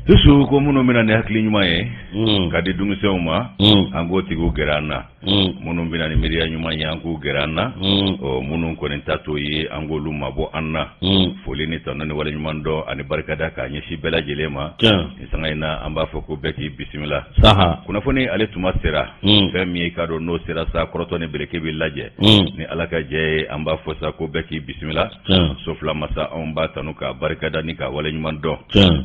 Su su ko minnu bɛna ni hakili ɲuman ye ka di denmisɛnw ma an k'o tigi gɛrɛ an na minnu bɛna ni miiriya ɲuman ye an k'u gɛrɛ an na minnu kɔni ta t'o ye an k'olu mabɔ an na foli ni tanu ni wale ɲuman dɔn ani barikada k'a ɲɛsin bɛɛ lajɛlen ma nin sanga in na an b'a fɔ ko bɛɛ k'i bisimila kunnafoni ale tuma sera fɛn min ye k'a dɔn n'o sera sa kɔrɔtɔ ni bereke bɛ lajɛ ni ala ka jɛ an b'a fɔ sa ko bɛɛ k'i bisimila so fila masa anw b'a tanu k'a barikada ni k'a wale ɲuman dɔn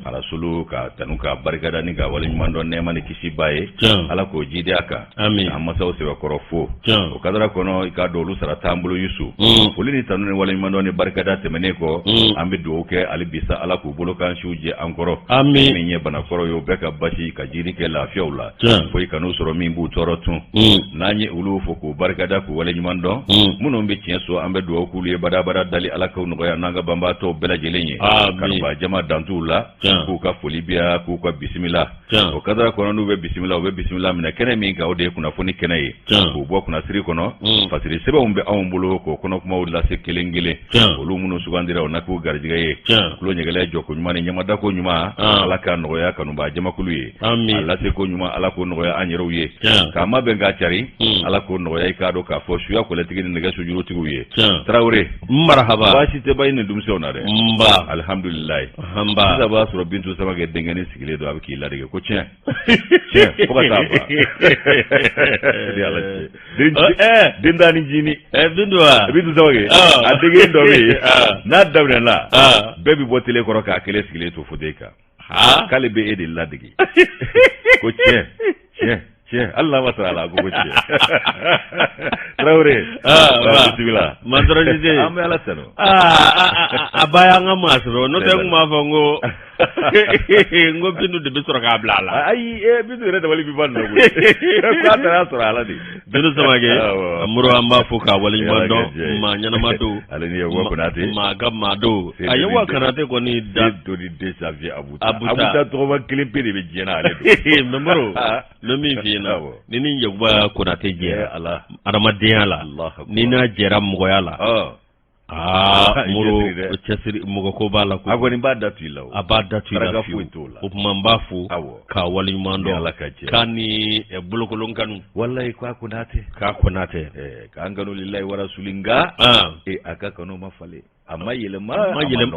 arasulu k'a tanu k'a barikada ni k'a wale ɲuman dɔn nɛɛma ni kisi b'a ye ala k'o jiidi a kan an masaw sɛbɛkɔrɔ fo o kadara kɔnɔ i k'a dɔn olu sara t'an bolo yusu mm. foli ni tanu ni wale ɲuman dɔn ni barikada tɛmɛnen kɔ mm. an bɛ dugawu kɛ hali bi sa ala k'u bolo kan siw jɛ an kɔrɔ min ye banakɔrɔ ye o bɛɛ ka basi ka jiidi kɛ lafiyaw la fo i kan'u sɔrɔ min b'u tɔɔrɔ tun hmm. n'an ye olu fo k'u barikada k'u wale ɲuman dɔn hmm. minnu bɛ tiɲɛ so an bɛ dugawu k'olu ye badabada dali ala k'u nɔgɔya n'an ka banbaatɔw bɛɛ lajɛlen ye kanubaa jama dantuw la k'u ka foli biya k'u ka bisimila o kadara kɔnɔ n'u bɛ bisimila u bɛ bisimila minɛ kɛnɛ min kan o de ye kunnafoni kɛnɛ ye k'u bɔ kunnasiri kɔnɔ hmm. fasiri sɛbɛnw bɛ anw bolo k'o kɔnɔkumaw lase kelen kelen olu minnu sugandira o na k'u garijɛgɛ ye tulo ɲɛgɛlɛ jɔko ɲuman ni ɲamadako ɲuman ala k'a nɔgɔya kanubaa jamakulu ye Ami a lase ko ɲuman ala k'o nɔgɔya an yɛrɛw ye k'a mabɛn k'a cari hmm. ala k'o nɔgɔya i k'a dɔn k'a fɔ suya kɔlɛtigi ni nɛgɛ sojurutigiw ye tarawele marahaba baasi tɛ ba in ni denmisɛnw na dɛ nba alihamdulilayi sisan b'a sɔrɔ bintu samakɛ denkɛnin sigilen don a bɛ k'i ladege ko tiɲɛ den tan ni jinin bintu a denkɛnin dɔ bɛ yen n'a daminɛna bɛɛ bɛ bɔ tele kɔrɔ k'a kelen sigilen to fotɛyi kan aa k'ale bɛ e de ladege ko tiɲɛ tiɲɛ tiɲɛ hali n'a ma sɔrɔ a la ko tiɲɛ tarawele bisimila masɔrɔjije an bɛ ala tanu a ba y'an ka maa sɔrɔ n'o tɛ n tun b'a fɔ n ko n ko bintu de bɛ sɔrɔ k'a bila a la ayi bintu yɛrɛ dabali bɛ ban nin na koyi k'a taara sɔrɔ a la de Bintu samakɛ moro an b'a fo k'a wale ɲuman dɔn maa ɲɛnama don ale maa ka maa don a yakuba konate kɔni da don desa abu a bɛ tɔgɔma kelen pe de bɛ diɲɛ ale don mɛ moro min f'i ɲɛna ni n ni yakuba konate jɛra adamadenya la ni n'a jɛra mɔgɔya la Aa moro cɛsiri mɔgɔ ko b'a la a kɔni b'a datu i la a b'a datu i la fiyewu o tuma n b'a fo k'a wale ɲuman dɔn ala ka jɛ k'a ni bolokolon kanu walayi k'a konate k'a konate k'an kanu lilayi wa rasuli nka ee a ka kanu ma falen a ma yɛlɛma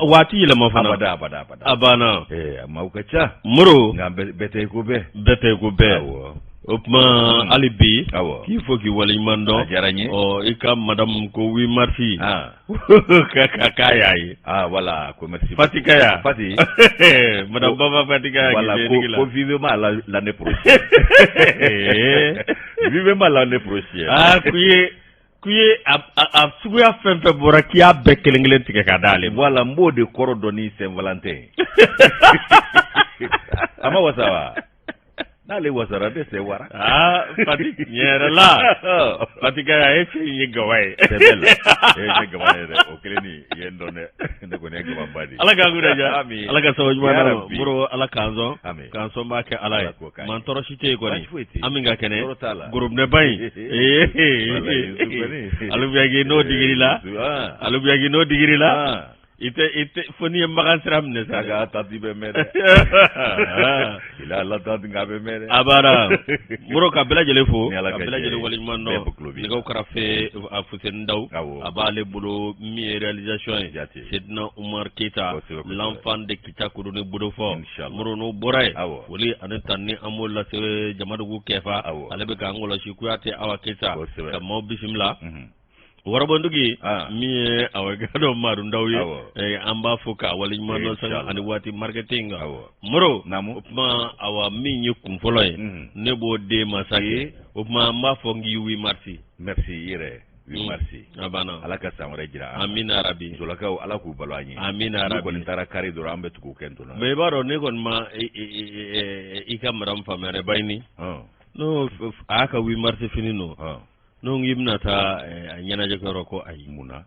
waati yɛlɛma fana abada abada a banna a maaw ka ca moro nka bɛɛ tɛ i ko bɛɛ bɛɛ tɛ i ko bɛɛ O tuma hmm. hali bi k'i fo k'i waleɲuman dɔn a diyara n ye i ka madame ko huit mars ah. ka k'a y'a ye ah, voilà ko merci Fati Kaya Fati madame Baba Fati Kaya voilà ko vivement l'année prochaine vivement l'année prochaine aa ah, k'u ye k'u ye a suguya fɛn fɛn bɔra k'i y'a bɛɛ kelen kelen tigɛ ka d'ale ma voilà n b'o de kɔrɔ dɔn ni Saint Valentin a ma wasa wa n'ale wasara bɛɛ sɛwara Fati tiɲɛ yɛrɛ la Fati Kaya e cɛ ye gawa ye gawa ye dɛ o kɛlen i ye n dɔn dɛ ne kɔni ye gawaba di ala k'an kunna diya ala ka sababu ɲuman na Moro ala k'an sɔn k'an sɔnbaa kɛ ala ye mantɔɔrɔ si tɛ yen kɔni an min ka kɛnɛ gorobinɛba in ee alubiyaki n'o digiri la alubiyaki n'o digiri la I tɛ i tɛ fo n'i ye Makan sira minɛ sa, Saga tati bɛ mɛn dɛ, il est à l'attente nka a bɛ mɛn dɛ, a banna Moro ka bɛɛ lajɛlen fo, ni Ala ka jɛn ye, ka bɛɛ lajɛlen waleɲuman dɔn, bɛɛ bɛ tulo b'i la, nɛgɛw karafe Fuseni Dawu, awɔ, a b'ale bolo min ye réalisation ye, Jate, Sedina Umaru Keyita, kosɛbɛ, kosɛbɛ, l'enfant de Kita Kodoni Bodofɔ, inchallah, Moro n'o bɔra yen, awɔ, foli ani tanuni an b'o lase Jamadugu Kɛfa, awɔ, ale bɛ k'an kɔlɔsi Kuyate Awa Keyita, kosɛbɛ, ka maaw bisimila, unhun. wɔrɔbɔndugi ah. min ye awa Gadɔ Maru Ndaw ye eh, an b'a fo k'a waleɲuman dɔn sanga ani waati marketing kan Moro o tuma awa min ye kun fɔlɔ ye mm. ne b'o de ma sa kɛ o tuma an b'a fɔ n k'i huit mars merci i yɛrɛ huit mm. mars a banna ala ka san wɛrɛ jira amina rabi musolakaw ala k'u balo an ye amina rabi kɔni taara kari dɔrɔn an bɛ tugu kɛ n tona mais i b'a dɔn ne kɔni ma i ka madame faamuya dɛ Bayini n'o a y'a ka huit mars fini don n'o k'i bɛna taa a ɲɛnajɛ kɛyɔrɔ ko ayi mun na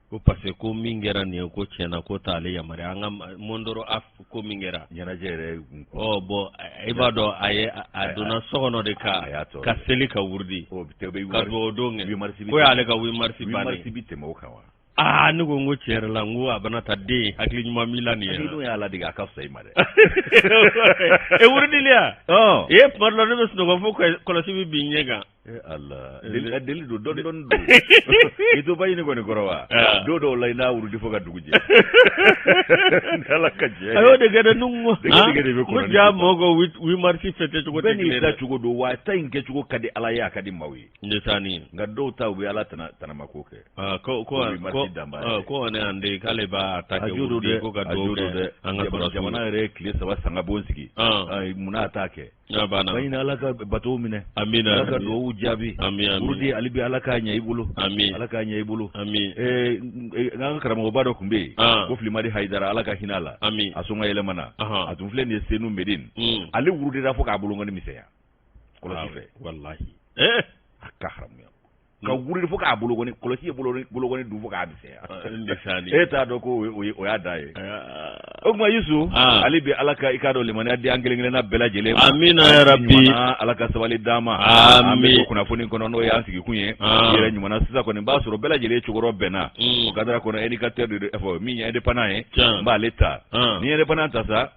ko parce que ko min kɛra nin ye ko tiɲɛ na k'o t'ale yamaruya an ka Mondoro af ko min kɛra ɲɛnajɛ yɛrɛ ɔ bɔn i b'a dɔn a ye a donna so kɔnɔ de ka ka seli ka wurudi ka dugawu don kɛ k'o y'ale ka huit mars bannen huit mars bi tɛmɛ o kan wa Aa ne ko n ko tiɲɛ yɛrɛ la n ko a bɛna taa den hakili ɲuman min la nin ye n'o y'a ladege a ka fisa i ma dɛ e wurudili e ye tuma dɔn ne bɛ sunɔgɔ fo kɔlɔsi bɛ bin ɲɛ kan ala deli don dɔn dɔn don i to Bayini kɔni kɔrɔ wa don dɔw la i na wurudi fo ka dugu jɛ ala ka jɛ a y'o de kɛ dɛ n ko jaa mɔgɔ huit mars fɛti cogo tɛ ni da cogo don wa ta in kɛcogo ka di ala ye a ka di maaw ye ne taa ni nka dɔw ta u bɛ ala tana tanama ko kɛ ah, ko ko ah, ko ne an de k'ale b'a ta kɛ o de ko ka duwawu kɛ an ka sɔrɔ jamana yɛrɛ tile saba sanga bon sigi ah. munna t'a kɛ n'a banna Bayini ala ka bato minɛ amina ala ka duwawu jaabi amin amin wurudi ali bi ala k'a ɲɛ i bolo amin ala k'a ɲɛ i bolo amin eh, eh, n ka karamɔgɔba dɔ tun bɛ yen ko Filimadi Hayidara ala ka hinɛ a la amin a sɔn ka yɛlɛmana a tun filɛ nin ye Senu Medin mm. ale wurudira fo k'a bolonkɔni misɛnya kɔlɔsi fɛ walahi eh a ka haramuya ka hmm. wuli fo k'a bolokɔni kɔlɔsi ye bolokɔni dun fo k'a misɛnya ah, e t'a dɔn ko o y'a da ye ah. o tuma Yusu ah. ale bɛ Ala ka i k'a dɔn limaniya di an kelen kelenna bɛɛ lajɛlen ma amina yarabi Ala ka sabali d'an ma an bɛ kunnafoni kɔnɔ n'o y'an sigikun ye yɛrɛ ɲuman sisan kɔni b'a sɔrɔ bɛɛ lajɛlen cogorɔ bɛnna hmm. o kadara kɔnɔ indicateur de fɔ min ye indépendant ye n b'ale ta n'i ye indépendant ta sa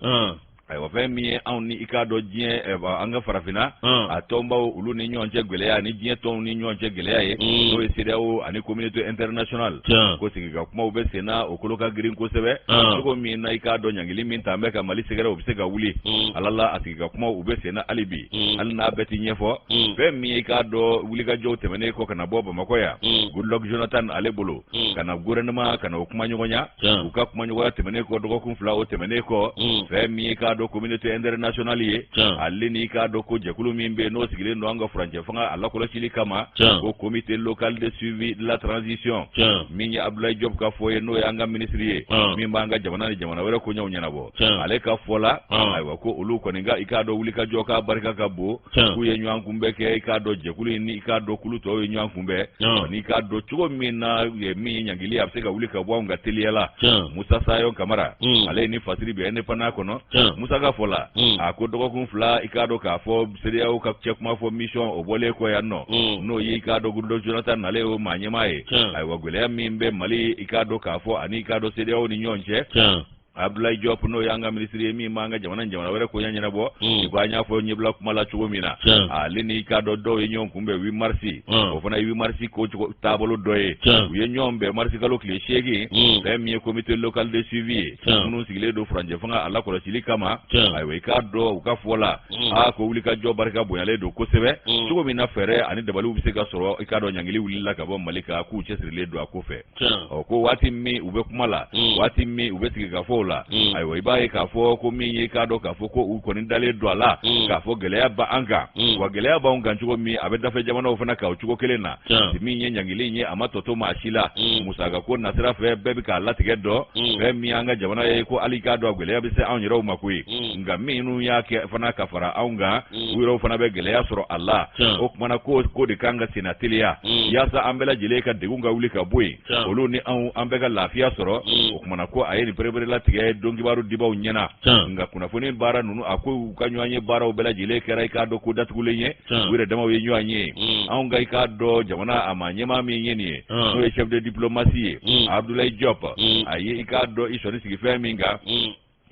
ayiwa fɛn min ye anw ni i k'a dɔn diɲɛ eh, an ka farafinna hmm. a tɔnbaw olu ni ɲɔgɔn cɛ gɛlɛya ani diɲɛ tɔnw ni ɲɔgɔn cɛ gɛlɛya ye hmm. n'o ye CEDEAO ani communauté internationale ko sigikakumaw bɛ sen na o kolo ka girin kosɛbɛ hmm. cogo min na i k'a dɔn ɲangili min talen bɛ ka Mali sɛgɛrɛ o bɛ se ka wuli ala la a sigikakumaw u bɛ sen na hali bi hali n'a bɛɛ ti ɲɛfɔ fɛn min ye i k'a dɔn wulikajɔw tɛmɛnen kɔ ka na bɔ Bamakɔ yan Goodluck Jonathan ale bolo mm. ka na gouvernement ka na o kumaɲɔgɔnya u ka kumaɲɔgɔnya tɛmɛnen kɔ dɔgɔkun fila o tɛmɛnen kɔ mm. fɛn min ye i k'a dɔn communauté internationale ye ale ni i k'a dɔn ko jɛkulu min bɛ yen n'o sigilen don an ka furancɛ fanga a lakɔlɔsili kama ko comité local de suivi de la transition min ye abdoulaye diop ka fɔ ye n'o ye an ka minisiri ye min b'an ka jamana ni jamana wɛrɛ koɲɛw ɲɛnabɔ ale ka fɔ la ayiwa ko olu kɔni ka i k'a dɔn wulikajɔ k'a barika ka bon k'u ye ɲɔgɔnkunbɛn kɛ i k'a dɔn jɛkulu in ni i k'a dɔn kulu tɔw ye ɲɔgɔn kunbɛn n'i k'a dɔn cogo min na min ye ɲangili a bɛ se ka wuli ka bɔ anw kan teliya la musa sayɔn kamara ale ni fasiri bɛ indépendant kɔnɔ musa ka fɔ la a ko dɔgɔkun fila i k'a dɔn k'a fɔ CEDEAO ka cɛ kuma fɔ mission o bɔlen kɔ yan nɔ n'o ye i k'a dɔn Goodluck Jonathan ale ye o maa ɲɛmaa ye ayiwa gɛlɛya min bɛ mali i k'a dɔn k'a fɔ ani i k'a dɔn CEDEAO ni ɲɔgɔn cɛ abdoulaye diop n'o y'an ka minisiri ye min b'an ka jamana ni jamana wɛrɛ koɲɛ ɲɛnabɔ hmm. i ko an y'a fɔ ɲɛbila kuma la cogo min na ale n'i k'a dɔn dɔw ye ɲɔgɔn kunbɛn huit mars hmm. o fana ye huit mars ko taabolo dɔ ye u ye ɲɔgɔn bɛn marisi kalo tile seegin hmm. fɛn min ye comité local de suivi ye minnu sigilen don furancɛ fanga a lakɔlɔsili kama ayiwa i k'a dɔn u ka fɔ la a ko wulikajɔ barika bonyalen don kosɛbɛ cogo min na fɛɛrɛ ani dabaliw bɛ se ka sɔrɔ i k'a dɔn ɲangili wulila ka bɔ mali kan k'u cɛsirilen don a ko fɛ ɔ ko waati min u bɛ kuma la waati min u bɛ sigikafɔw la ayiwa i b'a ye k'a fɔ ko min ye k'a dɔn k'a fɔ ko u kɔni dalen don a la k'a fɔ gɛlɛya b'an kan wa gɛlɛya b'anw kan cogo min a bɛ dafɛ jamanaw fana kan o cogo kelen na min ye ɲangili in ye a ma tɔ to maa si la musaka ko nasira fɛ bɛɛ bɛ k'a latigɛ dɔn fɛn min an ka jamana ye ko hali k'a dɔn gɛlɛya bɛ se anw yɛrɛw ma koyi nka minnu y'a kɛ fana ka fara anw kan u yɛrɛw fana bɛ gɛlɛya sɔrɔ a la o tuma na ko ko de k'an ka senna teliya yaasa an bɛɛ lajɛlen ka degun ka wuli ka bɔ yen olu ni anw an bɛɛ ka lafiya sɔrɔ o tuma na ko a ye nin pereperelatigɛ dɔnkibaru dibaw ɲɛna nka kunnafoni baara ninnu a ko u ka ɲɔgɔnye baaraw bɛɛ lajɛlen kɛra i k'a dɔn ko datugulen ye u yɛrɛ damaw ye ɲɔgɔn ye anw ka i k'a dɔn jamana a maa ɲɛmaa min ye nin ye n'o ye chef de diplomatie ye abdoulaye diop a ye i k'a dɔn i sɔnni sigi fɛn min kan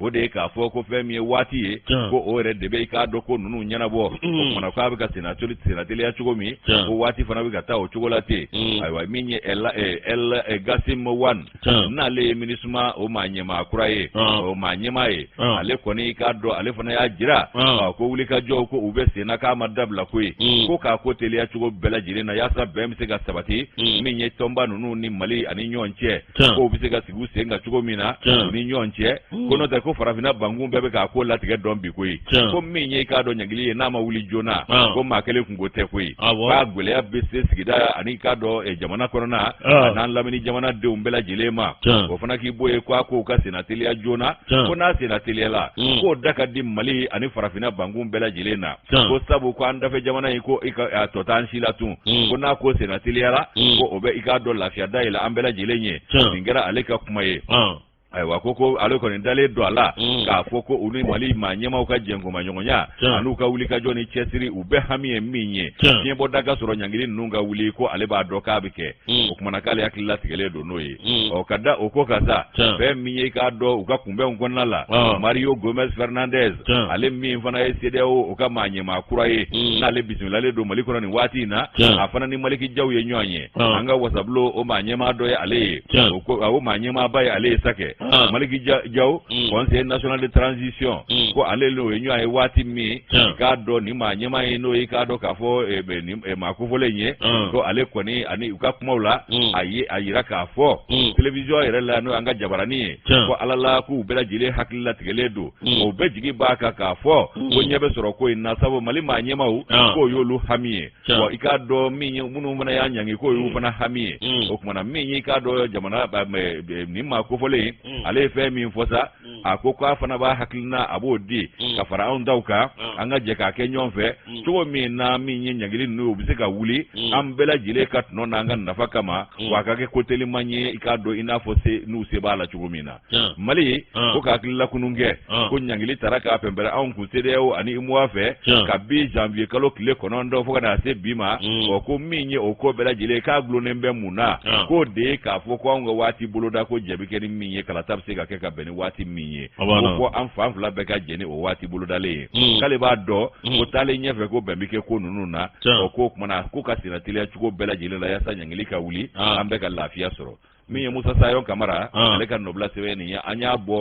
o de ye k'a fɔ ko fɛn min ye waati ye ko o yɛrɛ de bɛ i k'a dɔn ko ninnu ɲɛnabɔ o kumana k'a bɛ ka senatoli senateliya cogo min ko waati fana bɛ ka taa o cogo la ten ayiwa min ye el el ghassim wane n'ale ye minusma o maa ɲɛmaa kura ye o maa ɲɛmaa ye ale kɔni i k'a dɔn ale fana y'a jira ko wulikajɔw ko u bɛ sen na k'a ma dabila koyi ko k'a ko teliya cogo bɛɛ lajɛlen na yaasa bɛn bɛ se ka sabati min ye tɔnba ninnu ni mali ani ɲɔgɔn cɛ ko u bɛ se ka sigi u sen kan cogo min na u ni ɲɔgɔn cɛ ko n'o tɛ ko farafinna bankun bɛɛ bɛ k'a ko latigɛ dɔn bi koyi ko min ye i k'a dɔn ɲangili ye n'a ma wuli joona ko maa kelen kunko tɛ koyi k'a gɛlɛya bɛ se sigida ani i k'a dɔn eh, jamana kɔnɔna an'an lamini jamanadenw bɛɛ lajɛlen ma o fana k'i bɔ ye ko a ko ka senna teliya joona ko n'a senna teliyala k'o da ka di mali ani farafinna bankun bɛɛ lajɛlen na ko sabu ko an dafɛ jamana in ko a tɔ t'an si la tun mm. ko n'a ko senna teliyara mm. ko o bɛ i k'a dɔn lafiya da yɛlɛ an bɛɛ lajɛlen ye nin kɛra ale ka kuma ye ah. ayiwa ko ko ale kɔni dalen don a la mm. k'a fɔ ko u ni mali maa ɲɛmaaw ka jɛnkomaɲɔgɔnya an'u ka wulikajɔ ni cɛsiri u bɛɛ hami ye min ye fiɲɛbɔda ka sɔrɔ ɲangili ninnu ka wuli ko ale b'a dɔn k'a bɛ kɛ o kumana k'ale hakili latigɛlen don n'o ye Mm. o ka da o ko kan sa fɛn min ye i k'a dɔn u ka kunbɛnw kɔnɔna la ah. mario gomez fernandez ale min fana ye sedeyawo o ka maa ɲɛmaa kura ye mm. n'ale bisimilalen don mali kɔnɔ nin waati in na a fana ni maliki jaw ye ɲɔgɔn ye ah. an ka wasabulo o maa ɲɛmaa dɔ ye ale ye o maa ɲɛmaaba ye ale ye sa kɛ ah. maliki jaw mm. conseil national de transition ko ale n'o ye ɲɔgɔn ye waati min i k'a dɔn nin maa ɲɛmaa ye n'o ye k'a dɔn k'a fɔ eh, eh, maa kofɔlen ye mm. ko ale kɔni ani u ka kumaw la mm. a ye a yira k'a fɔ mm. télévision yɛrɛ la n'o y'an ka jabarani ye ko ala la k'u bɛɛ lajɛlen hakili latigɛlen don u bɛɛ jigi b'a kan k'a fɔ ko ɲɛ bɛ sɔrɔ ko in na sabu mali maa ɲɛmaaw k'o y'olu hami ye wa i k'a dɔn min ye minnu fana y'a ɲangi k'o y'u fana hami ye o kumana min y'i k'a dɔn jamana eh, eh, nin maa kofɔlen ale ye fɛn min fɔ sa mm. a ko k'a fana b'a hakilina a b'o di mm. ka fara anw taw kan mm. an ka jɛ k'a kɛ ɲɔgɔn fɛ cogo min na min ye ɲangili ninnu u bɛ se ka wuli an bɛɛ lajɛlen ka tɔnɔ n'an ka nafa kama wa a ka kɛ ko teliman ye i k'a dɔn i n'a fɔ se n'u se b'a la cogo min na mali ko ka hakili lakunun kɛ ko ɲangili tara k'a pɛnpɛrɛ anw kun sedeyawo ani uemoa fɛ kabi janvier kalo tile kɔnɔntɔn fo ka na se bi ma ɔ ko min ye o ko bɛɛ lajɛlen k'a gulonnen bɛ mun na k'o de ye k'a fɔ ko anw ka waati boloda ko jɛn bɛ kɛ ni min ye kalata bɛ se ka kɛ ka bɛn ni waati min ye ko fo an fan fila bɛɛ ka jɛn ni o waati bolodalen ye mm. k'ale b'a dɔn mm. ko taalen ɲɛfɛ ko bɛn bɛ kɛ ko ninnu na o k'o kumana ko ka senateliya cogo bɛɛ lajɛlen la yaasa ɲangili ka wuli ah. an bɛɛ ka lafiya sɔrɔ min ye musa sayon kamara ah. ale ka nɔbila sɛbɛn nin ye an y'a bɔ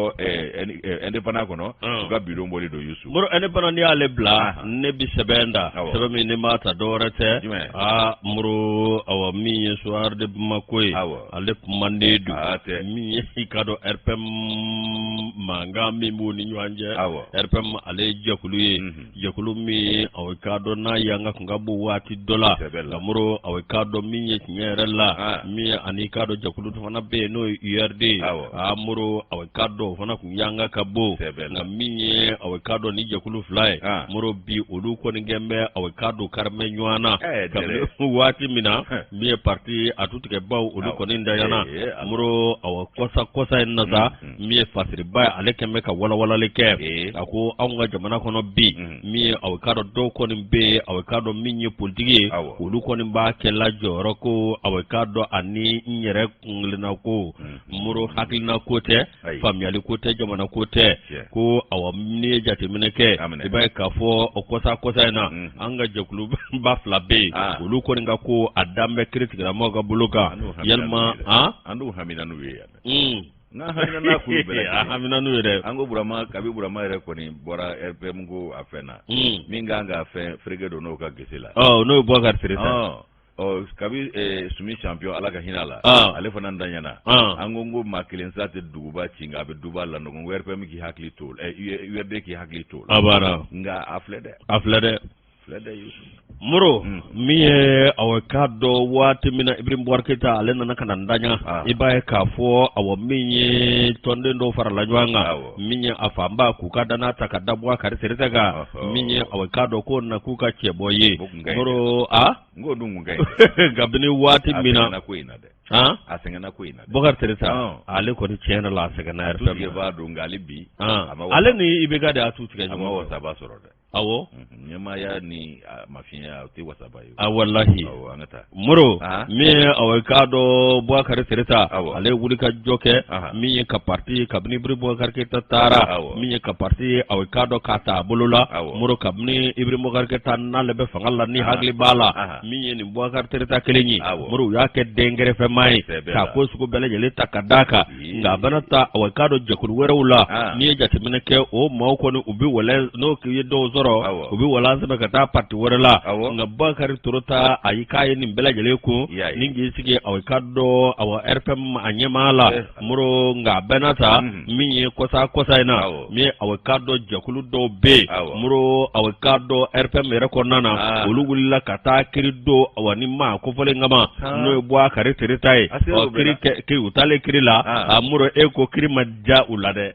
indépendant eh, eh, kɔnɔ ah. u ka bidon bɔlen don yusu moro indépendant n'i y'ale bila ah. ne bi sɛbɛn da sɛbɛn min ne m'a ta dɔwɛrɛ tɛ moro awa min ye soir de bamako ye ale manden don ah, min ye i ka dɔn rpm mankan min b'u ni ɲɔgɔn cɛ rpm ale ye jɛkulu ye mhm. jɛkulu min aw ka dɔn n'a yanga kun ka bon waati dɔ la nka moro aw ka dɔn min ye tiɲɛ yɛrɛ la ah. min ani ka dɔn jɛkulu fana bɛ yen n'o ye urd a moro aw ka dɔn o fana kun yanga ka bon nka min ye aw ka dɔn ni jɛkulu fila ye ah. moro bi olu kɔni kɛn bɛ aw ka dɔn karimɛ ɲɔgɔn na kabini waati min na min ye pati a tutigɛbaaw olu kɔni ntanyana moro kɔsa kɔsa in na sa min ye fasiriba ye ale kɛn bɛ ka walawalali kɛ a ko anw ka jamana kɔnɔ bi min ye aw ka dɔn dɔw kɔni bɛ yen aw ka dɔn min ye politigi ye olu kɔni b'a kɛ la jɔyɔrɔ ko aw ka dɔn ani n yɛrɛ kunkelenna ko moro hakilina ko tɛ faamuyali ko tɛ jamana ko tɛ ko aw ni ye jateminɛ kɛ i b'a ye k'a fɔ o kɔsa kɔsa in na mm. an ka jɛkuluba fila bɛ yen ah. olu kɔni ka ko a dan bɛ kiritigɛla maaw ka bolo kan yalima an n'u hamina n'u ye yan mm. n'a hamina n'a kun bɛɛ a hamina n'u ye dɛ an ko burama kabi burama yɛrɛ kɔni bɔra rpm ko a fɛn na mm. min kan ka fɛn fereke don n'o ka gese la n'o ye bokari tereta ɔ kabi eh, sumi champion ala ka hinɛ la Ah. ale fana ntanyana Ah. an ko n ko maa kelen sa tɛ duguba ci nka a bɛ duguba lanɔgɔ rpm k'i hakili to o la urd k'i hakili to o la abara nka a filɛ dɛ a filɛ dɛ filɛ dɛ yusu moro Mm. min ye awɔ k'a dɔn waati min na ibrahim bubakari keyita ale nana ka na ntanya Ah. i b'a ye k'a fɔ awɔ min ye tɔnden dɔw farala ɲɔgɔn kan Awɔ. min ye a fanba k'u ka danaya ta ka da bokari tereta kan Ɔhɔ. min ye awɔ k'a dɔn k'o na k'u ka cɛbɔ ye O n'o dun mun kabini waati min na ko in na dɛ a sɛgɛnna ko in na bokari tereta ale kɔni tiɲɛ la a sɛgɛnna yɛrɛ b'a dɔn nka ale bi ale ni ibk de y'a tutigɛ ɲɔgɔn a ma wasaba sɔrɔ dɛ awɔ ɲɛmaaya ni mafiya o tɛ wasaba ye a walahi an ka taa Moro min ye a k'a dɔn bokari tereta ale wuli ka jɔ kɛ min ye ka pati kabini ibrahim bubakari keyita taara min ye ka pati a k'a dɔn k'a ta a bolo la moro kabini ibrahim bubakari keyita n'ale bɛ fanga la ni hakili b'a la min ye nin bokari tereta kelen ye moro u y'a kɛ den gɛrɛfɛmaa ye ka ko sugu bɛɛ lajɛlen ta ka da a kan nka a bɛna taa aw k'a dɔn jɛkulu wɛrɛw la n'i ye jateminɛ kɛ o maaw kɔni u bɛ wala n'o ye dɔw sɔrɔ u bɛ wala sɛbɛn ka taa pati wɛrɛ la nka bokari tereta a y'i k'a ye nin bɛɛ lajɛlen kun ni k'i sigi a k'a dɔn a rpm a ɲɛmaa la moro nka a bɛna taa min ye kɔsa kɔsa in na min ye a bɛ k'a dɔn jɛkulu dɔw bɛ yen, awɔ, Moro a bɛ k'a dɔn RPM yɛrɛ kɔnɔna na, aa, olu wulila ka taa kiri don a wa ni maa kofɔlen kama, aa, n'o ye Bokari Tereta ye, a sera o ɔ bɛɛ kiri la. kɛ kiri u taalen kiri la, aa, a Moro e ko kiri ma diya u la dɛ,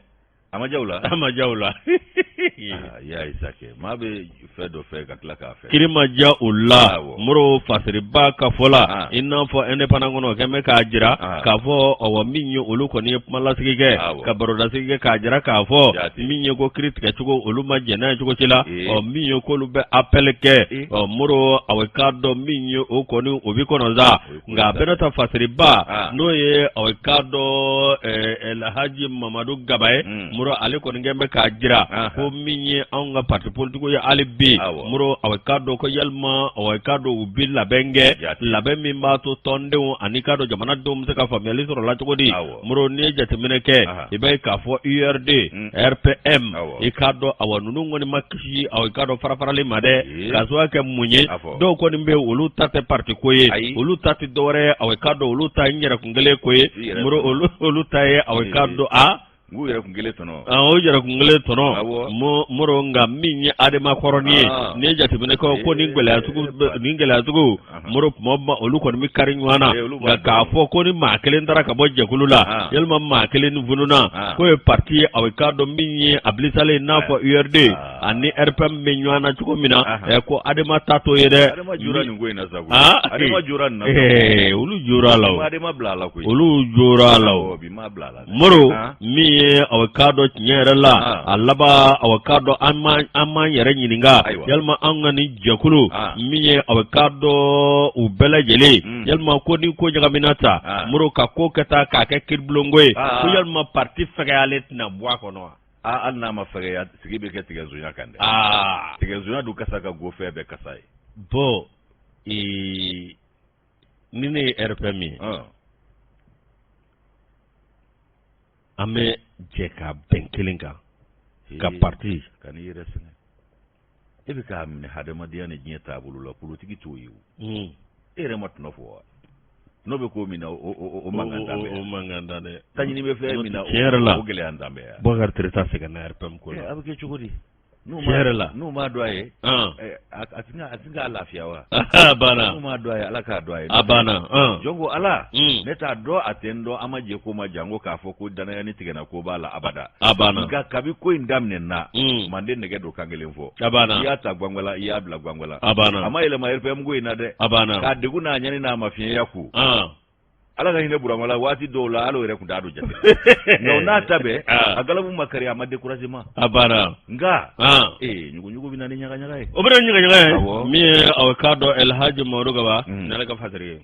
a ma diya u la, a ma diya u la. Aa, i y'a ye sa kɛ, maa bɛ fan dɔ fɛ ka tila k'a fɔ kiri ma diya o la Awɔ. mori fasiriba ka fɔ la Ah. i n'a fɔ indépendant kɔnɔ o kɔni bɛ k'a jira Ah. k'a fɔ awɔ min ye olu kɔni ye kumalasigi kɛ Awɔ. ka barodasigi kɛ k'a jira k'a fɔ Jate. min ye ko kiri tigɛ cogo olu ma jɛn n'a ye cogo si la Ee. ɔ min ye k'olu bɛ appel kɛ Ee. ɔ mori aw k'a dɔn min ye o kɔni o bɛ kɔnɔ sa. nka a bɛna ta fasiriba n'o ye aw k'a dɔn lahaji mamadu gaba ye mm. mori ale kɔni bɛ k'a jira ko min ye anw ka pati politigiw ye hali bi mori aw k'a dɔn ko yalima aw k'a dɔn u bɛ labɛn kɛ labɛn min b'a to tɔndenw ani k'a dɔn jamanadenw bɛ se ka faamuyali sɔrɔ la cogo di mori n'i ye jateminɛ kɛ i bɛ k'a fɔ urd mm. rpm i k'a dɔn awa ninnu kɔni ma kisi aw k'a dɔn farafarali ma dɛ k'a sababu kɛ mun ye dɔw kɔni bɛ olu ta tɛ parti ko ye olu ta tɛ dɔwɛrɛ aw k'a dɔn olu ta n yɛrɛkun kelen ko ye mori olu ta ye aw k'a dɔn a u yɛrɛ kun kelen tɔnɔ o yɛrɛ kun kelen tɔnɔ mori nka min ye adema kɔrɔnin ye n'i ye jateminɛ kɛ o kɔni gɛlɛya sugu mori tuma bɛɛ olu kɔni bɛ kari ɲɔgɔn na nka k'a fɔ ko ni maa kelen taara ka bɔ jɛkulu la yalima maa kelen ni fununa k'o ye pati ye aw k'a dɔn min ye a bilisalen i n'a fɔ urd ani rpm bɛ ɲɔgɔn na cogo min na ɛ ko adema ta t'o ye dɛ olu jora la olu jora la mori min ye aw k'a dɔn tiɲɛ yɛrɛ la a laban aw k'a dɔn an b'an yɛrɛ ɲininka yalima an ka nin jɛkulu min ye aw k'a dɔn u bɛɛ lajɛlen mm. yalima ko ni ko ɲagamina tan mori ka ko ka taa k'a kɛ kiiribulonko ye ko yalima pati fɛgɛyalen tɛna bɔ a kɔnɔ wa aa hali n'a ma fɛgɛya sigi bɛ kɛ tigɛsonya kan dɛ tigɛsonya don kasa ka go fɛn bɛɛ kasa ye bɔn ni ne ye rpm ye an bɛ jɛ ka bɛn kelen kan ka parti kanu yiri sɛnɛ e bɛ k'a minɛ hadamadenya ni diɲɛ taabolo la politiki t'o ye o hmm. e yɛrɛ ma tɔnɔ fɔ wa n'o bɛ ko min na o mankan dan bɛ o mankan dan dɛ taɲini bɛ fɛn min na o gɛlɛya dan bɛ yan Bocary Treta sɛgɛnna RPM ko la eh, a bɛ kɛ cogo di N'u ma, tiɲɛ yɛrɛ la n'u m'a dɔn a ye ɔn eh, a a ti na- a ti k'a lafiya wa a banna n'u m'a dɔn a ye ala k'a dɔn a ye a banna ɔn jɔn ko ala Mm. ne t'a dɔn a tɛ n dɔn an ma jɛ ko ma janko k'a fɔ ko dannaya ni tigɛna ko b'a la abada a banna nka kabi ko in daminɛ na Mm. manden nɛgɛ don kan kelen fɔ a banna i y'a ta gwangwala i y'a bila gwangwala a banna a ma yɛlɛma rpm ko in na dɛ a banna k'a degun n'a ɲani n'a mafiɲɛya ko ɔn ala ka hinɛ burama la waati dɔw la ale yɛrɛ tun da don jate nka o n'a ta bɛɛ ah. a galabu ma kari a ma dekurasi ma a baara nka ah. ee ɲuguɲugu bɛ na ni ɲagaɲaga ye o bɛ na ni ɲagaɲaga ye min ye aw k'a dɔn elhaji mamadu kaba hmm. n'ale ka fasiri ye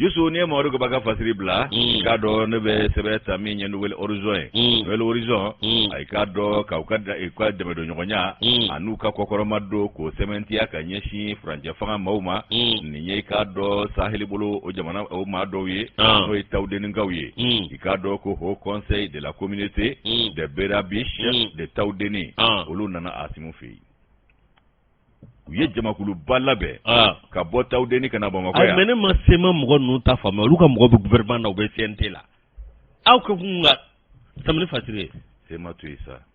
yusu n'i ye mamadu kaba ka fasiri bila hmm. k'a dɔn ne bɛ sɛbɛn ta min ye nouvelle horizon ye hmm. nouvelle horizon a y'i k'a dɔn k'aw ka ka dɛmɛdonɲɔgɔnya an'u ka kɔkɔrɔma don k'o sɛmɛntiya ka ɲɛsin furancɛ fanga maaw ma nin ye i k'a dɔn saheli bolo o jamana o maa dɔw ye ah. n'o ye tawudenninkaw ye hmm. i k'a dɔn ko haut conseil de la communauté hmm. des berabiches hmm. de tawudenni ah. olu nana asimu fɛ yen u ye jamakuluba labɛn ah. ka bɔ tawudenni ka na bamakɔ yan mais ne ma CMA mɔgɔ ninnu ta faamu olu ka mɔgɔ bɛ gouvernement na u bɛ CNT la aw ko an ka tɛmɛ ni fasiri ye CMA to yen sa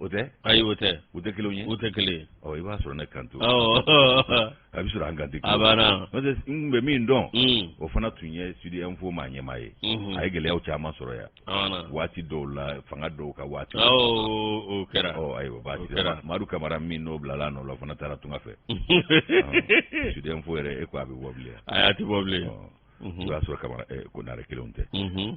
o tɛ ayi o tɛ u tɛ kelen ye u tɛ kelen ye ɔ i b'a sɔrɔ ne kanto a bɛ sɔrɔ an kanto a banna n'o tɛ n tun bɛ min dɔn mm. o fana tun ye sud info maa ɲɛmaa ye mm-hmm. a ye gɛlɛyaw caman sɔrɔ yan waati dɔw la fanga dɔw ka waati o kɛra ɔ ayiwa baasi tɛ madu kamara min n'o bilala nɔ la o fana taara tunga fɛ sud info yɛrɛ e ko a bɛ bɔ bilen ayi a tɛ bɔ bilen o y'a sɔrɔ kamara ko naare kelenw tɛ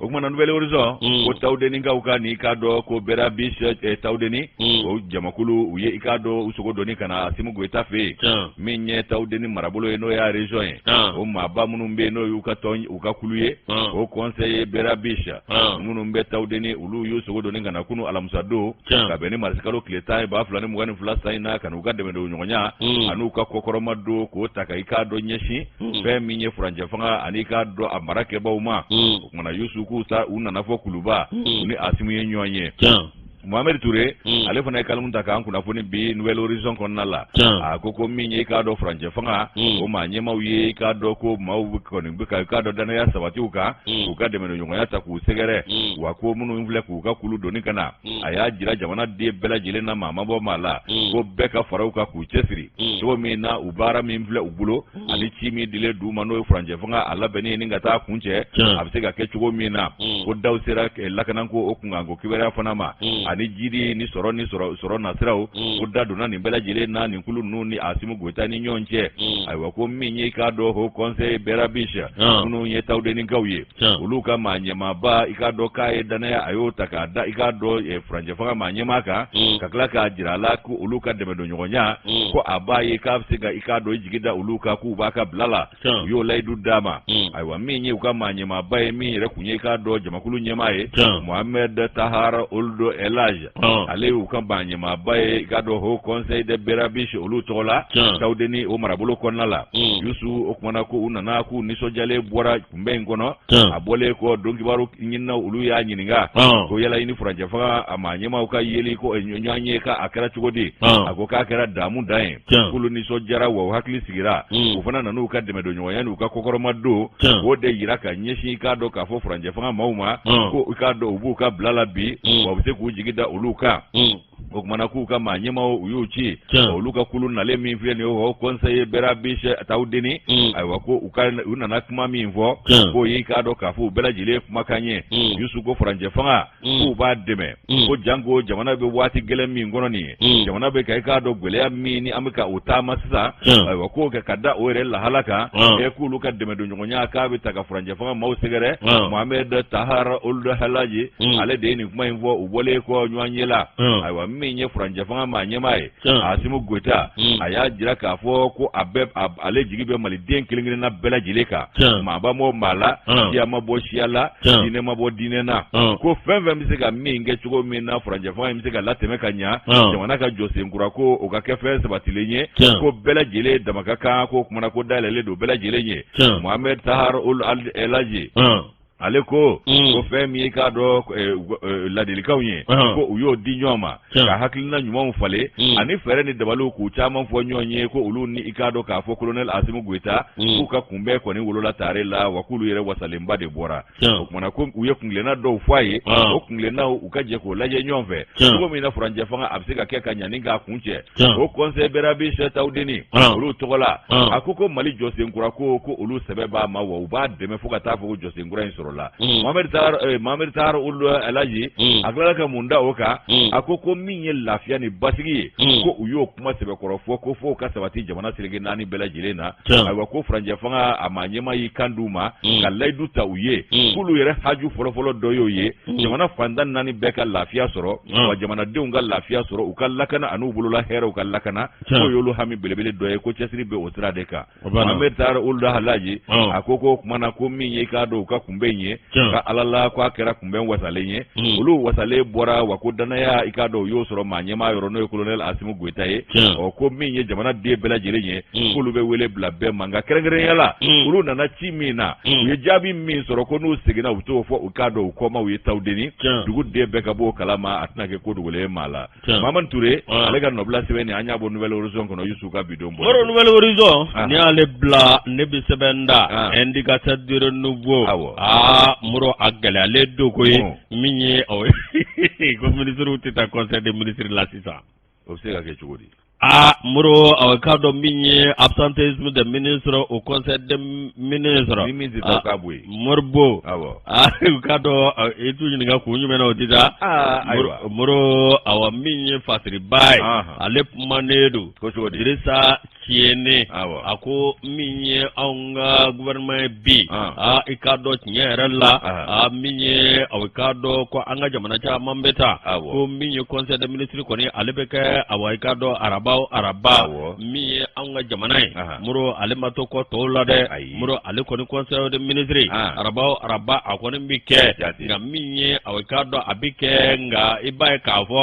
o kuma na nouvelle horizon ko tawudenikaw ka nin i k'a dɔn ko berabiches tawudeni o jamakulu u ye i k'a dɔn u sogo doni ka na Asimu Goyita fɛ yen min ye tawudeni marabolo ye n'o y'a région ye o maaba minnu bɛ yen n'o y'u ka tɔn u ka kulu ye o conseil berabiches minnu bɛ tawudeni olu y'u sogo doni ka na kunu alamisa don ka bɛn ni marisikalo tile tan ba fila ni mugan ni fila san in na ka n'u ka dɛmɛdonɲɔgɔnya mm. an'u ka kɔkɔrɔma don k'o ta ka i k'a dɔn ɲɛsin mm. fɛn min ye furancɛ fanga ani k'a dɔn a marakɛbaaw ma mm. o kuma na yusu k'u ta u nana fo kuluba u ni asimu ye ɲɔgɔn ye mohamɛdi ture hmm. ale fana ye kalimu ta k'an kunnafoni bi nouvelle horizon kɔnɔna la a ko ko min ye i k'a dɔn furancɛ fanga hmm. o maa ɲɛmaaw ye i k'a dɔn ko maaw kɔni bɛ ka i k'a dɔn dannaya sabati u kan hmm. k'u ka dɛmɛdonɲɔgɔnya ta k'u sɛgɛrɛ wa ko minnu filɛ k'u u ka kulu doni ka na mm. a y'a jira jamana den bɛɛ lajɛlen na maa ma bɔ maa la mm. ko bɛɛ ka fara u kan k'u cɛsiri mm. cogo min na u baara min filɛ u bolo ani ci min dilen d'u ma n'o ye furancɛ fanga a labɛnni ye ni ka t'a kuncɛ a bɛ se ka kɛ cogo min na ko daw sera eh, lakananko o kunkanko kibaruya fana ma ani jiidi ni sɔrɔ ni sɔrɔ nasiraw ko da donna nin bɛɛ lajɛlen na nin kulu ninnu ni asimu goyita ni ɲɔgɔn cɛ ayiwa ko min ye k'a dɔn haut conseil berabiches minnu ye tawudenikaw ye olu ka maa ɲɛmaaba i k'a dɔn k'a ye dannaya a y'o ta k'a da i k'a dɔn eh, furancɛ fanga maa ɲɛmaa kan mm. ka tila k'a jira a la ko olu ka dɛmɛdonɲɔgɔnya mm. ko a b'a ye k'a bɛ se ka i k'a dɔn i jigi da olu kan k'u b'a ka bila la u y'o layidu d'a ma mm. ayiwa min ye u ka maa ɲɛmaaba ye min yɛrɛ kun ye i k'a dɔn jamakulu ɲɛmaa ye mohamɛd tahar ould elhaji ale y'u ka maa ɲɛmaaba ye i k'a dɔn haut conseil des berabiches olu tɔgɔ la tawudeni o marabolo kɔnɔna la yusu o kuma na ko u nana k'u nisɔndiyalen bɔra kunbɛn in kɔnɔ a bɔlen kɔ donkibaru ɲinina olu y'a ɲininka ko yala a ni furancɛ fanga maa ɲɛmaaw ka yeli ko ɲɔgɔnye k'a kɛra cogo di a ko k'a kɛra damu dan ye k'olu nisɔn diyara wa u hakili sigira u fana nana u ka dɛmɛ don ɲɔgɔnya n'u ka kɔkɔrɔmadon o de jira ka ɲɛsin i k'a dɔn k'a fɔ furancɛ fanga maaw ma ko i k'a dɔn u b'u ka bila la bi wa u bɛ se k'u jigi da olu kan o kuma na k'u ka maa ɲɛmaaw u y'u ci olu ka kulu nalen min filɛ nin ye o conseil berabiche tawdeni mm. ayiwa ko u nana kuma min fɔ k'o ye i k'a dɔn k'a fɔ u bɛɛ lajɛlen ye kumakan ye mm. yusu ko furancɛ fanga mm. k'u b'a dɛmɛ ko janko jamana bɛ waati gɛlɛn min kɔnɔ nin ye jamana bɛ ka i k'a dɔn gɛlɛya min ni an bɛ ka o taama sisan ayiwa ko ka da o yɛrɛ lahala kan e k'olu ka dɛmɛ don ɲɔgɔnya k'a bɛ taa ka furancɛ fanga maaw sɛgɛrɛ Mohamed Tahar Ould El Hadj ale de ye nin kuma in fɔ u bɔlen kɔ ɲɔgɔnye la ayiwa min ye furancɛ fanga maa ɲɛmaa ye asimu goyita a y'a jira k'a fɔ ko a bɛ ale jigi bɛ maliden kelen kelenna bɛɛ lajɛlen kan maa ma bɔ maa la siya ma bɔ siya la diinɛ ma bɔ diinɛ na ko fɛn fɛn bɛ se ka min kɛ cogo min na furancɛ fanga in bɛ se ka latɛmɛ ka ɲɛ jamana ka jɔsen kura ko o ka kɛ fɛn sabatilen ye ko bɛɛ lajɛlen dama ka kan k'o kuma na ko da yɛlɛlen don bɛɛ lajɛlen ye Mohamed Tahar Ould El Hadj ale ko ko fɛn min ye i k'a dɔn laadilikanw ye ko u y'o di ɲɔgɔn ma ka hakilina ɲumanw falen ani fɛɛrɛ ni dabaliw k'u caman fɔ ɲɔgɔn ye ko olu ni i k'a dɔn k'a fɔ kolonɛli asimu goyita k'u ka kunbɛn kɔni wolola tare la wa k'olu yɛrɛ wasalenba de bɔra o kuma na ko u ye kungɛlɛna dɔw fɔ a ye o kungɛlɛna u ka jɛ k'o lajɛ ɲɔgɔn fɛ cogo min na furancɛ fanga a bɛ se ka kɛ ka ɲa ni k'a kuncɛ o conseil berabiche tawdeni olu tɔgɔ la a ko ko mali jɔsen kura ko ko olu sɛbɛ b'a ma wa u b'a dɛmɛ fo ka taa fo jɔsen kura in sɔrɔ la Mohamed Tahar Ould El Hadj a tilala ka mun da o kan a ko ko min ye lafiya ni basigi ye ko u y'o kuma sɛbɛkɔrɔ fɔ ko fo ka sabati jamana seleke naani bɛɛ lajɛlen na ayiwa ko furancɛ fanga maa ɲɛmaa y'i kan d'u ma mm. ka layidu ta u ye mm. k'olu yɛrɛ haju fɔlɔfɔlɔ dɔ y'o ye mm. jamana fan tan ni naani bɛɛ ka lafiya sɔrɔ wa jamanadenw ka lafiya sɔrɔ u ka lakana ani'u bolola hɛrɛw ka lakana k'o y'olu hami belebele dɔ ye ko cɛsiri bɛ o sira de kan Mohamed Tahar Ould El Hadj a ko ko o kuma na ko min ye i k'a dɔn u ka kunbɛn in ye ka ala la ko a kɛra kunbɛn wasalen ye hmm. olu wasalen bɔra wa ko dannaya i k'a dɔn u y'o sɔrɔ maa ɲɛmaa yɔrɔ n'o ye kolonɛli asimu goyita ye hmm. ɔ ko min ye jamanaden bɛɛ lajɛlen ye hmm. k'olu bɛ wele bila bɛɛ ma nka kɛrɛnkɛrɛnya la olu nana ci min na u ye jaabi min sɔrɔ ko n'u seginna u t'o fɔ i k'a dɔn u kɔmaaw ye tawdeni duguden bɛɛ ka bɔ o kalama a tɛna kɛ ko dogolen ye maa la Maman Ture ale ka nɔbila sɛbɛn nin an y'a bɔ Nouvel Horizon kɔnɔ Youssou ka bi don bɔ. Moro Nouvel Horizon n'i y'ale bila ne bɛ sɛbɛn da Indicateur du Renouveau awɔ aa Moro a gɛlɛyalen don ko ye min ye o ye ko ministres tɛ taa conseil des ministres la sisan o bɛ se ka kɛ cogo di. Aa moro aw k'a dɔn min ye absentéisme des ministres au conseil des ministres moribo aa k'a dɔn i t'u ɲininka k'u jumɛn na o di moro awa min ye fasiriba ye ale kumanen don dirisa tiɲɛ na a ko min ye anw n ka gouvernement ye bi aa i k'a dɔn tiɲɛ yɛrɛ la aa min ye aw k'a dɔn ko an ka jamana caman bɛ taa ko min ye conseil des ministres kɔni ale bɛ kɛ awa i k'a dɔn araba o araba min ye anw ka jamana ye moro ale ma to kɔ tɔw la dɛ moro ale kɔni conseil des ministres araba o araba a kɔni bɛ kɛ nka min ye aw k'a dɔn a bɛ kɛ nka i b'a ye k'a fɔ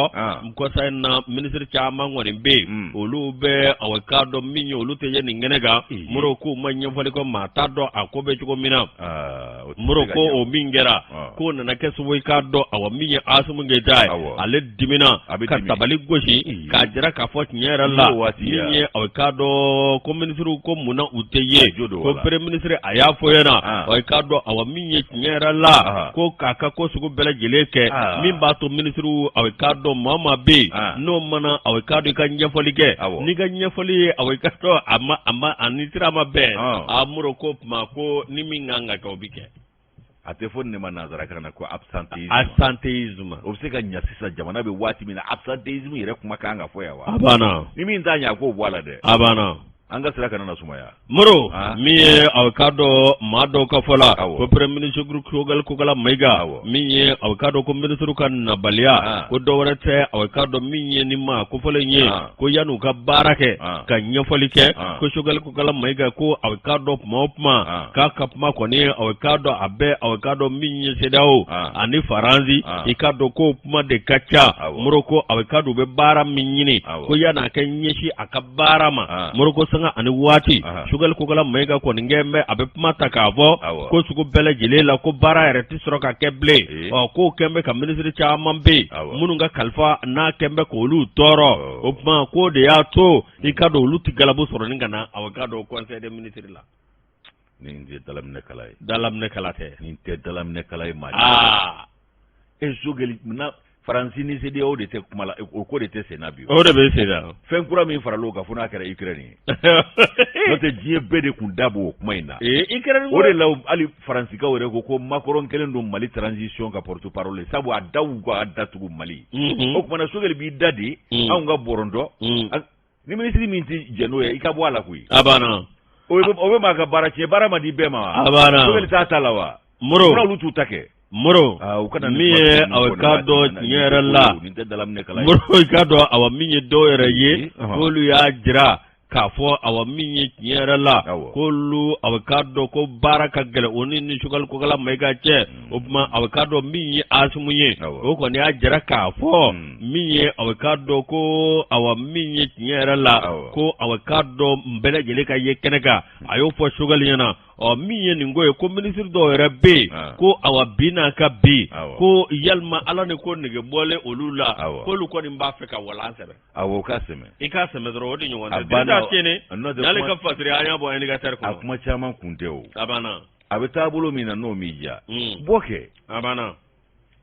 conseil in na minisiri caman kɔni bɛ yen mm. olu bɛ aw k'a dɔn min ye olu tɛ ye nin kɛnɛ kan mm. moro ko ma ɲɛfɔli kɔ maa t'a dɔn a ko bɛ cogo min na ah, moro ko o min kɛra ah. k'o nana kɛ sababu i k'a dɔn awa min ye asimi goyita ye ale dimina ka tabali gosi mm. k'a jira k'a fɔ tiɲɛ yɛrɛ la min ye aw k'a dɔn ko minisiriw ko mun na u tɛ ye ko premier ministre a y'a fɔ ɲɛna ah. aw k'a dɔn awa min ye tiɲɛ yɛrɛ la ko k'a ka ko sugu bɛɛ lajɛlen kɛ min b'a to minisiriw aw k'a dɔn maa maa bɛ yen n'o mana aw k'a dɔn i ka ɲɛfɔli kɛ n'i ka ɲɛfɔli ye aw k'a dɔn a ma a ma a ni sira ma bɛn a moro k'o tuma ko ni min kan ka kɛ o bɛ kɛ. a tɛ fɔ nin ma nanzara kan na ko absentéisme absentéisme o bɛ se ka ɲa sisan jamana bɛ waati min na absentéisme yɛrɛ kuma ka kan ka fɔ yan wa a banna ni min t'a ɲa a k'o bɔ a la dɛ a banna an ka sira kana na sumaya moro ah. min ye aw ka dɔ maa dɔw ka fɔ la ko premier ministre sogali kokala mayiga min ye aw k'a dɔn ko minisiri ka nabaliya ah. ko dɔ wɛrɛ tɛ aw k'a dɔn min ye nin maa kofɔlen ye ah. ko yan'u ka baara kɛ ka ɲɛfɔli kɛ ko sogali kokala mayiga ko aw k'a dɔn kuma o kuma k'a ka kuma kɔni aw k'a dɔn a bɛɛ aw k'a dɔn min ye sedawo ani faransi i k'a dɔn ko kuma de ka ca moro ko aw k'a dɔn u bɛ baara min ɲini ko yan'a k'i ɲɛsin a ka baara ma ah. moro ko sanga ani waati ah. sugali kokala mayiga kɔni kɛn bɛ a bɛ kuma ta k'a fɔ ah, ko sugu bɛɛ lajɛlen la ko baara yɛrɛ tɛ sɔrɔ ka kɛ bilen eh. ɔ k'o kɛn bɛ ka minisiri caman bɛ yen minnu ka kalifa n'a kɛn bɛ k'olu tɔɔrɔ oh. o tuma k'o de y'a to i k'a dɔn olu tɛ galabu sɔrɔ ni ka na aw k'a dɔn conseil des ministres la. nin tɛ dalaminɛkala ye dalaminɛkala tɛ nin tɛ dalaminɛkala ye maa aa e sogɛli na faransi ni sedawo de tɛ kuma la o ko de tɛ senna bi o de bɛ senna fɛn kura min farala o kan fo n'a kɛra ukraine ye n'o tɛ diɲɛ bɛɛ de tun da b'o kuma in na ukraine o de la hali faransikaww yɛrɛ ko ko makɔrɔn kɛlen don mali transition ka porte-parole sabu a da wa ka datugu mali o kuma na sogɛli b'i da de anw ka bɔrɔntɔ ni minisiri min tɛ jɛn n'o ye i ka bɔ a la koyi a banna o bɛ o bɛ maa ka baara tiɲɛ baara ma di bɛɛ ma wa a banna Sogɛli t'a ta la wa moro fura olu t'u ta kɛ moro Ah, u kana min ye nin aw kuma k'a fɔ dɔn nin tiɲɛ yɛrɛ la nin tɛ dalaminɛ kala ye moro i k'a dɔn awa min ye dɔw yɛrɛ ye Ɔhɔn. k'olu y'a jira k'a fɔ awa min ye tiɲɛ yɛrɛ la Awɔ. k'olu a bɛ k'a dɔn ko baara ka gɛlɛn o ni ni Sogɛli Kokala Mayiga cɛ o tuma a bɛ k'a dɔn min ye Asimu ye o kɔni y'a jira k'a fɔ hmm. min ye a bɛ k'a dɔn ko awa min ye tiɲɛ yɛrɛ la ko a bɛ k'a dɔn bɛɛ lajɛlen ka ye kɛnɛ kan a y'o fɔ Sogɛli ɲɛna ɔ min ye nin ko ye ko minisiri dɔw yɛrɛ bɛ yen ah. ko awa bi n'a ka bi ko yalima ala ni ko nege bɔlen olu la k'olu kɔni b'a fɛ ka walan sɛbɛn awɔ o ka sɛmɛ i k'a sɛmɛ dɔrɔn o de ɲɔgɔn tɛ n'ale ka fasiri an y'a bɔ indicateur kɔnɔ a kuma caman kun tɛ o a banna a bɛ taabolo min na n'o m'i diya mm. bɔ kɛ a banna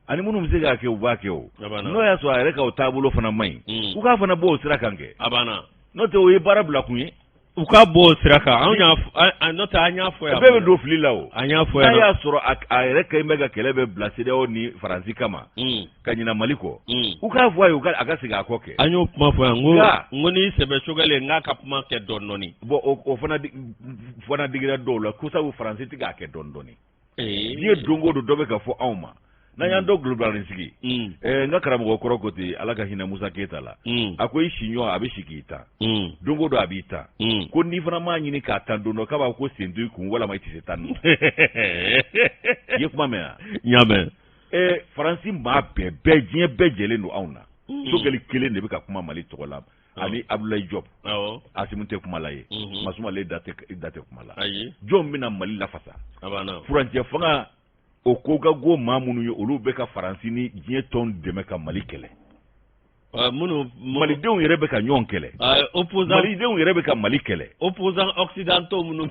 ani minnu bɛ se k'a kɛ u b'a kɛ o n'o y'a sɔrɔ a yɛrɛ ka o taabolo fana man ɲi mm. u k'a fana bɔ o sira kan kɛ a banna n'o tɛ o ye baara bila kun ye u ka bɔ o sira kan anw y'a n'o tɛ an y'a fɔ yan bɛɛ bɛ don fili la o an y'a fɔ yan n'a y'a sɔrɔ a yɛrɛ kɛlen bɛ ka kɛlɛ bɛɛ bila CEDEAO ni Faransi kama mm. ka ɲina mali kɔ mm. u k'a fɔ a ye a ka segin a kɔ kɛ an y'o kuma fɔ yan n ko n'i sɛbɛ sogɛli n k'a ka kuma kɛ dɔɔni dɔɔni bɔn o fana fana digira dɔw la ko sabu faransi tɛ k'a kɛ dɔɔni dɔɔni diɲɛ don o don dɔ bɛ ka fɔ anw ma n'an y'an mm. dɔ gulobulanin sigi mm. eh, n ka karamɔgɔ kɔrɔ ko ten ala ka hinɛ musa keyita la a ko i siɲɔgɔn a bɛ si k'i tan don o don a b'i tan ko n'i fana m'a ɲini k'a tan don dɔ k'a b'a ko sen t'i kun walama i tɛ se tan i ye kuma mɛn wa n y'a mɛn ɛɛ faransi maa bɛɛ bɛɛ diɲɛ bɛɛ jɛlen don anw na sogɛli kelen de bɛ ka kuma mali tɔgɔ la ani abudulayi jɔb asimu tɛ kuma la ye masumale da tɛ kuma la jɔn bɛna mali lafasa furancɛ fanga o ko ka go maa minnu ye olu bɛ ka faransi ni diɲɛ tɔn dɛmɛ ka mali kɛlɛ minnu malidenw yɛrɛ bɛ ka ɲɔgɔn kɛlɛ malidenw yɛrɛ bɛ ka mali kɛlɛ opposants occidentaux minnu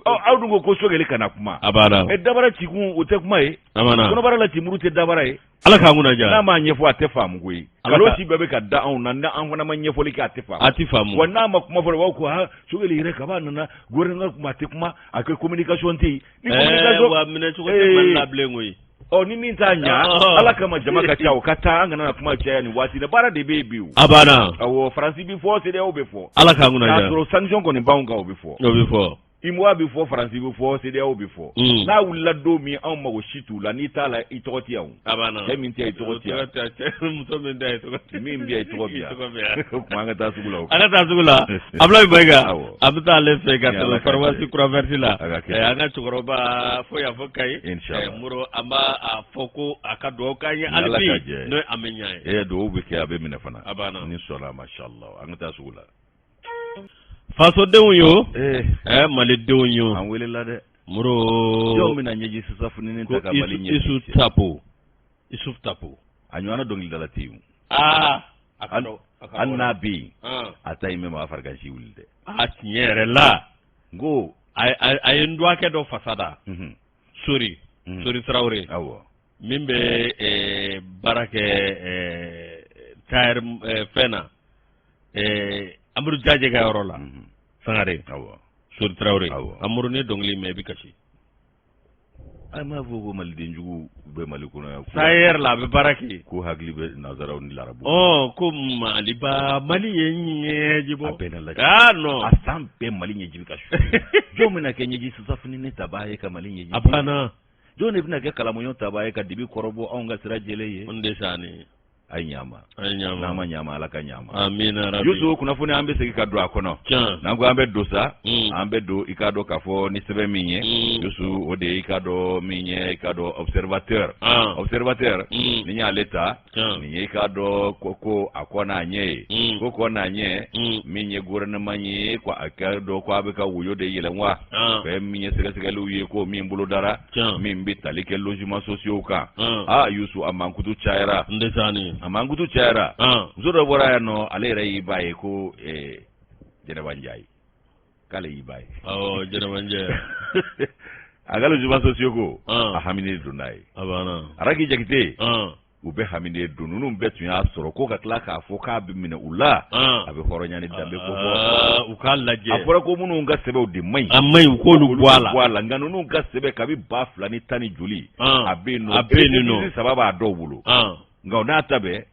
aw dun ko ko sogɛli kana kuma a dabara ci kun o tɛ kuma ye kɔnɔbara la ci muru tɛ dabara ye ala k'an kunna diya n'a m'a ɲɛfɔ a tɛ faamu koyi nkalon ci bɛɛ bɛ ka da anw na n'an fana ma ɲɛfɔli kɛ a tɛ a tɛ faamu wa n'a ma kuma fɔlɔ aw ko ha sogɛli yɛrɛ kaba nana gouvernement kuma a tɛ kuma a ko communication tɛ yen ni communication minɛ cogo tɛ mali la bilen koyi ɔ ni min t'a ɲa Ɔhɔn. ala kama jama ka ca o ka taa an kana na kuma caya nin waati la baara de bɛ yen bi o a banna awɔ faransi bɛ fɔ sedeyaw bɛ fɔ ala k'an kunna diya k'a sɔrɔ sanction kɔni b'anw kan o bɛ fɔ o bɛ fɔ imoa bɛ fɔ faransi bɛ fɔ sedeyaw bɛ fɔ Mm. n'a wulila don min anw mago si t'u la n'i t'a la i tɔgɔ tɛ yan o a banna cɛ min tɛ yen i tɔgɔ tɛ yan muso min tɛ yen tɔgɔ tɛ min bɛ yan i tɔgɔ bɛ yan o tuma an ka taa sugu la an ka taa sugu la abulayi mayiga Awɔ. A bɛ taa ale fɛ ka pharmacie Croix Verte la an ka cɛkɔrɔba fo yan fo Kayi Muro an b'a fɔ ko a ka dugawu k'an ye hali bi n'o an bɛ ɲ e dugawu bɛ kɛ a bɛ minɛ fana a b'a ni sɔnna a masha Allah an bɛ taa sugu la fasodenw yo malidenw yo an welela dɛ Muro jɔn bɛna ɲɛji susa finini ta ka mali ɲɛji susa Tapo Isuf Tapo a ɲɔgɔnna dɔnkilidala tɛ yen A ka dɔn, a ka hali n'a bɛ yen, an, a ta in bɛ maa farigansi wuli dɛ. a tiɲɛ yɛrɛ la N ko, a a a ye n dɔgɔkɛ dɔ fasa da unhun, sori unhun, sori tarawele awɔ, min bɛ eh, baara kɛ eh, SAER eh, fɛn na eh, Amadu Jaje ka yɔrɔ la unhun, Sankare awɔ, sori tarawele awɔ. Amadu ne dɔnkili in mɛn i bɛ kasi A m'a fɔ ko maliden jugu bɛ mali kɔnɔ yan SAER la a bɛ baara kɛ ko hakili bɛ nansaraw ni larabu ko maliba mali ye ɲɛji bɔ bɛɛ la a nɔ a san bɛɛ mali ɲɛji bɛ ka su jɔn bɛna kɛ ɲɛji susa finini tabaa ye ka mali ɲɛji a banna jɔn de bɛna kɛ kalamuɲɔ tabaa ye ka dibi kɔrɔbɔ anw ka sira jɛlen ye Ndesani a ye ɲama a ye ɲama n'an ma ɲama ala ka ɲama amina rabi yusu kunnafoni an bɛ segin ka don a kɔnɔ tiɲɛ n'an ko an bɛ don sa mm. an bɛ don i k'a dɔn k'a fɔ ni sɛbɛn min ye mm. yusu o de ye i k'a dɔn min ye i k'a dɔn observateur ah. observateur mm. ni y'ale ta nin ye i k'a dɔn ko ko a kɔ n'a ɲɛ ye mm. ko kɔ n'a ɲɛ mm. min ye gouvernement ye ko a k'a dɔn ko a bɛ ka woyo de yɛlɛn wa ah. fɛn min ye sɛgɛsɛgɛliw ye ko min bolodara Tiɲɛ. min bɛ tali kɛ logement sociaux kan Ɔn. aa Yusu a mankutu cayara Ndesani. a mankutu cayara Ɔn. muso dɔ bɔra yan nɔ ale yɛrɛ y'i ba ye ko eh, Jɛnɛba Njayi k'ale y'i ba ye Awɔ Jɛnɛba Njayi. a ka logement sociaux ko Ɔn. a haminen don n'a ye A banna. Araki Jakite Ɔn. u bɛ haminen don ninnu bɛɛ tun y'a sɔrɔ ko ka tila k'a fɔ k'a bɛ minɛ u la ah. a bɛ hɔrɔnya ni danbe ko ah, u k'a lajɛ a fɔra ko minnu ka sɛbɛnw de man ɲi a man ɲi u k'olu bɔ a la bɔ a la nka ninnu ka sɛbɛn kabi ba fila ni tan ni joli ah. a bɛ yen nɔ a bɛ yen nɔ saba b'a dɔw bolo nka o n'a ta bɛɛ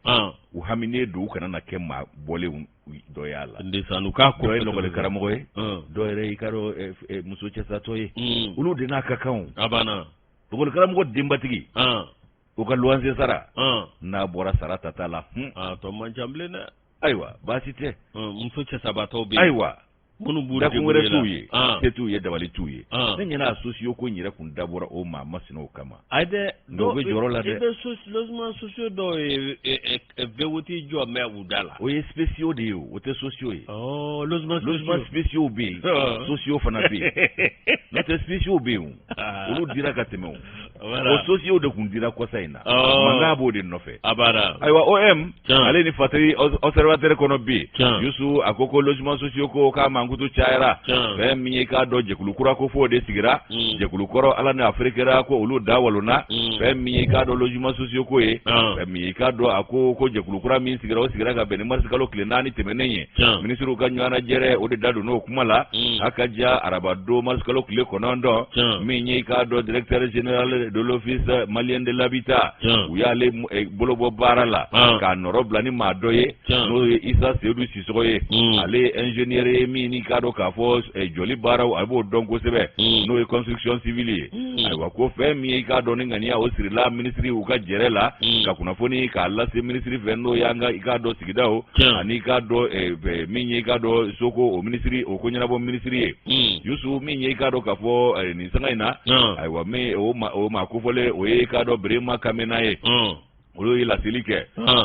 u haminen don u kana na kɛ maa bɔlenw dɔ y'a la Ndesani u k'a dɔ ye lɔkɔli karamɔgɔ ye dɔw yɛrɛ i k'a dɔn eh, eh, muso cɛsatɔ ye hmm. olu de n'a ka kan o a banna lɔkɔli karamɔgɔ denbatigi u ka luwanse sara n'a bɔra sara tata la tɔ man ca bilen dɛ ayiwa baasi tɛ muso cɛsabatɔw bɛ ayiwa minnu b'u dakun wɛrɛ t'u ye se t'u ye dabali t'u ye ne ɲɛna a sociaux ko in yɛrɛ kun dabɔra o maa masinaw kama ayi dɛ dɔw bɛ jɔrɔ la dɛ i bɛ logement sociaux dɔw ye V huit jɔ mɛ u da la o ye spéciaux de ye o tɛ sociaux ye logement spéciaux bɛ yen sociaux fana bɛ yen n'o tɛ spéciaux bɛ yen ah. olu dira ka tɛmɛ o sociaux de kun dira kɔsa in na oh. mankan b'o de nɔfɛ ayiwa om ale ni fatiri observateur kɔnɔ bi yusu a ko ko logement sociaux ko k'a mankutu cayara fɛn min ye k'a dɔn jɛkulu kura ko f'o de sigira mm. jɛkulu kɔrɔ ala ni afiri kɛra ko olu da walonna mm. fɛn min ye k'a dɔn logement sociaux ko ye fɛn min ye k'a dɔn a ko ko jɛkulu kura min sigira o sigira ka bɛn ni marisi kalo tile naani tɛmɛnen ye minisiriw ka ɲɔgɔnajɛrɛ o de da don n'o kuma la mm. a ka diya araba don marisikalo tile kɔnɔntɔn min ye k'a dɔn directeur général de l'office malien de l'habitat u y'ale eh, bolo bɔ baara la k'a nɔrɔ bila ni maa dɔ ye n'o ye isa seyidu sisɔgɔ ye mm. ale ye ingénieur ye min ni k'a dɔn k'a fɔ eh, jɔli baaraw a b'o dɔn kosɛbɛ mm. n'o ye construction civile ye Hmm. ayiwa ko fɛn min ye i k'a dɔn ni ŋaniya o sirila minisiriw ka jɛrɛ la hmm. ka kunnafoni k'a lase minisiri fɛ n'o y'an ka i k'a dɔn sigidaw hmm. ani i k'a dɔn eh, eh, min ye i k'a dɔn soko o minisiri o ko ɲɛnabɔ minisiri ye yusu min ye i k'a dɔn k'a fɔ eh, nin sanga in na ayiwa min o maa kofɔlen o ye i k'a dɔn berema kamena ye olu ye laseli kɛ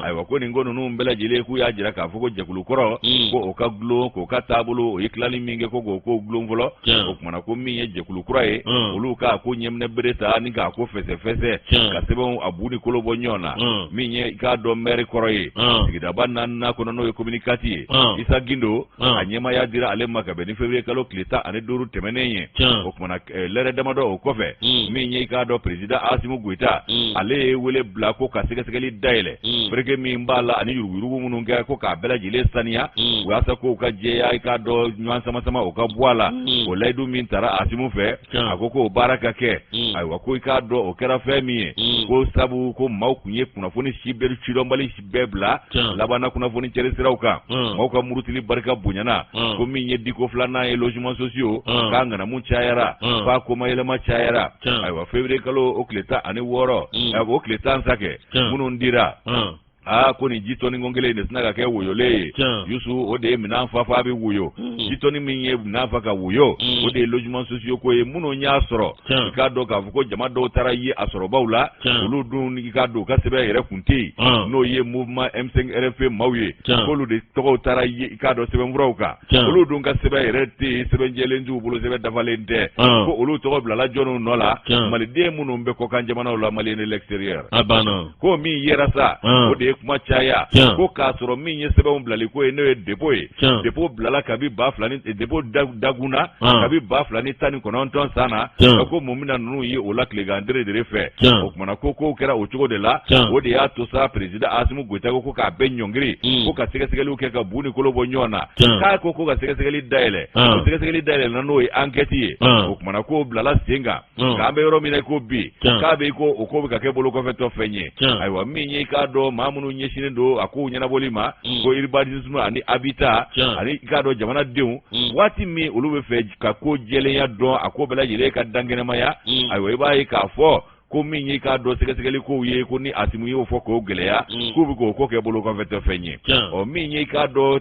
ayiwa ko nin ko ninnu bɛɛ lajɛlen k'u y'a jira k'a fɔ ko jɛkulu kɔrɔ hmm. ko o ka gulon k'o ka taabolo o ye tilali min kɛ ko k'o ko gulon fɔlɔ o kumana ko min ye jɛkulu kura ye hmm. olu k'a ko ɲɛminɛ bere ta ni k'a ko fɛsɛfɛsɛ ka sɛbɛnw a bu ni kolo bɔ ɲɔgɔn na hmm. min ye i k'a dɔn mɛri kɔrɔ ye sigidaba naaninan kɔnɔ n'o ye komini kati ye isa gindo a ɲɛmaya dira ale ma ka bɛn ni février kalo tile tan ani duuru tɛmɛnen ye o kumana eh, lɛrɛ damadɔ o kɔfɛ mm. min ye k'a dɔn peresidan asimu goyita mm. ale ye wele bila ko ka sɛgɛsɛgɛli dayɛlɛ mm. fereke min b'a la ani yuruguyurugu minnu kɛ ko k'a bɛɛ lajɛlen saniya walasa ko ka jɛya i k'a dɔn ɲɔgɔn sama sama o ka bɔ a la o layidu min taara asimu fɛ a ko k'o baara ka kɛ ayiwa ko i k'a dɔn o kɛra fɛn min ye ko sabu ko maaw kun ye kunnafoni si bere sidɔnbali bɛɛ bila laban na kunnafoni cɛri siraw kan maaw ka murutili barika bonyana ko min ye diko filanan ye logement sociaux k'a ŋanamu cayara f'a ko mayɛlɛma cayara ayiwa février kalo o tile tan ani wɔɔrɔ o tile tan sa kɛ minnu dira a ko nin ji tɔni ko kelen in sinna ka kɛ woyolen ye yusu o de ye minɛn fa f'a bɛ woyo ji tɔni min ye minɛn fa ka woyo o de ye logement sociaux ko ye minnu y'a sɔrɔ i k'a dɔn k'a fɔ ko jama dɔw taara ye a sɔrɔbaw la olu dun i k'a dɔn u ka sɛbɛn yɛrɛ kun tɛ yen n'o ye mouvement M5 RFP maaw ye k'olu de tɔgɔw taara ye i k'a dɔn sɛbɛnfuraw kan olu dun ka sɛbɛn yɛrɛ tɛ yen sɛbɛn jɛlen t'u bolo sɛbɛn dafalen tɛ ko olu tɔgɔ bilala jɔniw nɔ la maliden minnu bɛ kɔkan jamanaw la Maliens de l'extérieur a banna ko min yera sa o de ye kuma caya ko k'a sɔrɔ min ye sɛbɛnw bilali ko ye n'o ye dépôt ye dépôt bilala kabi ba fila dépôt dagunna kabi ba fila ni tan ni kɔnɔntɔn san na a ko mun min na ninnu ye o la tilegan dɛrɛdɛrɛ fɛ o kumana ko ko kɛra o cogo de la o de y'a to sa peresidan asimu goyita ko k'a bɛ ɲɔngiri hmm. ko ka sɛgɛsɛgɛli kɛ ka bu ni kolo bɔ ɲɔgɔn na k'a ko ko ka sɛgɛsɛgɛli dayɛlɛ o sɛgɛsɛgɛli dayɛlɛnna n'o ye ankɛti ye o kumana ko bilala sen kan k'an bɛ yɔrɔ min na ko bi k'a bɛ ko o ko bɛ ka kɛ bolo kɔfɛtɔ fɛn ye ayiwa min ye i k'a dɔn maa minnu ɲɛsinnen don a kow ɲɛnabɔli ma ko urbanisme ani habitat ani i k'a dɔn jamanadenw waati min olu bɛ fɛ ka ko jɛlenya dɔn a ko bɛɛ lajɛlen ka dankɛnɛmaya ayiwa i b'a ye k'a fɔ ko min ye i k'a dɔn sɛgɛsɛgɛli kow ye ko ni asimu y'o fɔ k'o gɛlɛya k'u bɛ k'o ko kɛ bolo kɔfɛtɔ fɛn ye ɔ min ye i k'a dɔn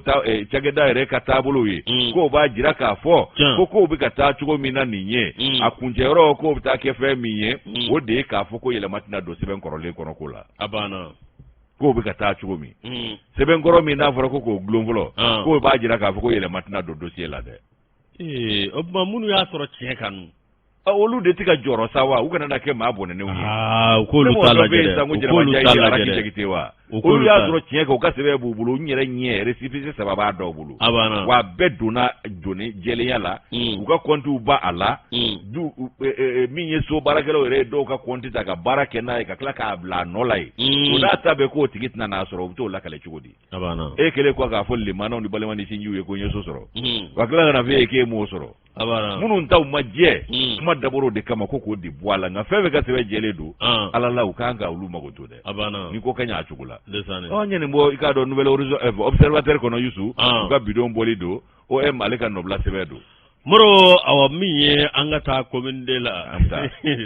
cakɛda yɛrɛ ka taabolo ye mm. k'o b'a jira k'a fɔ ko k'o bɛ ka taa cogo min na nin ye mm. a kuncɛyɔrɔ k'o bɛ taa kɛ fɛn min ye mm. o de ye k'a fɔ ko yɛlɛma tɛna don sɛbɛn kɔrɔlen kɔnɔ ko la a banna k'o bɛ ka taa cogo min sɛbɛn kɔrɔ min n'a fɔra ko k'o dulon fɔlɔ ah. k'o b'a jira k'a fɔ ko yɛlɛma tɛna don dosiye la dɛ Ee o tuma minnu y'a sɔrɔ tiɲɛ kan dun? Ɔ olu de tɛ ka jɔrɔ sa wa? U kana na kɛ maa bɔnɛnenw ye. Aa u k'olu ta lajɛ dɛ, u k'olu ta lajɛ dɛ, ne mɔgɔ dɔ bɛ yen sisan ko Jɛnɛba Jayiri ye Araki Jakite ye wa? U k'olu ta lajɛ, olu y'a sɔrɔ tiɲɛ kan u ka sɛbɛn b'u bolo, n yɛrɛ ɲɛ récépissé saba b'a dɔw bolo, a banna, wa a bɛɛ donna jɔni jɛlenya la, u ka comptes b'a la, du min ye so baarakɛlaw yɛrɛ ye dɔw ka compte ta ka baara kɛ n'a ye ka tila k'a bila a nɔ la yen, o n'a ta bɛɛ k'o tigi tɛna n'a sɔrɔ u bɛ t'o lakale cogo di? e kɛlen kɔ k'a fɔ lemanaw ni balima ni sinjiw ye ko n ye so sɔrɔ hmm. wa tila ka n'a f'e ye k'e m'o sɔrɔ a banna minnu taw ma jɛ hmm. kuma dabɔr'o de kama ko k'o de bɔ a la nka fɛn fɛn ka sɛbɛn jɛlen don ah. ala la u kan ka olu makoto dɛ a banna ni ko ka ɲɛ a cogo la ɔ n ye nin bɔ i k'a dɔn nouvel horizon eh, observateur kɔnɔ yusu ah. u ka bi don bɔli don o ale ka nɔbila sɛbɛn don moro awa min ye an k'a ta komin de la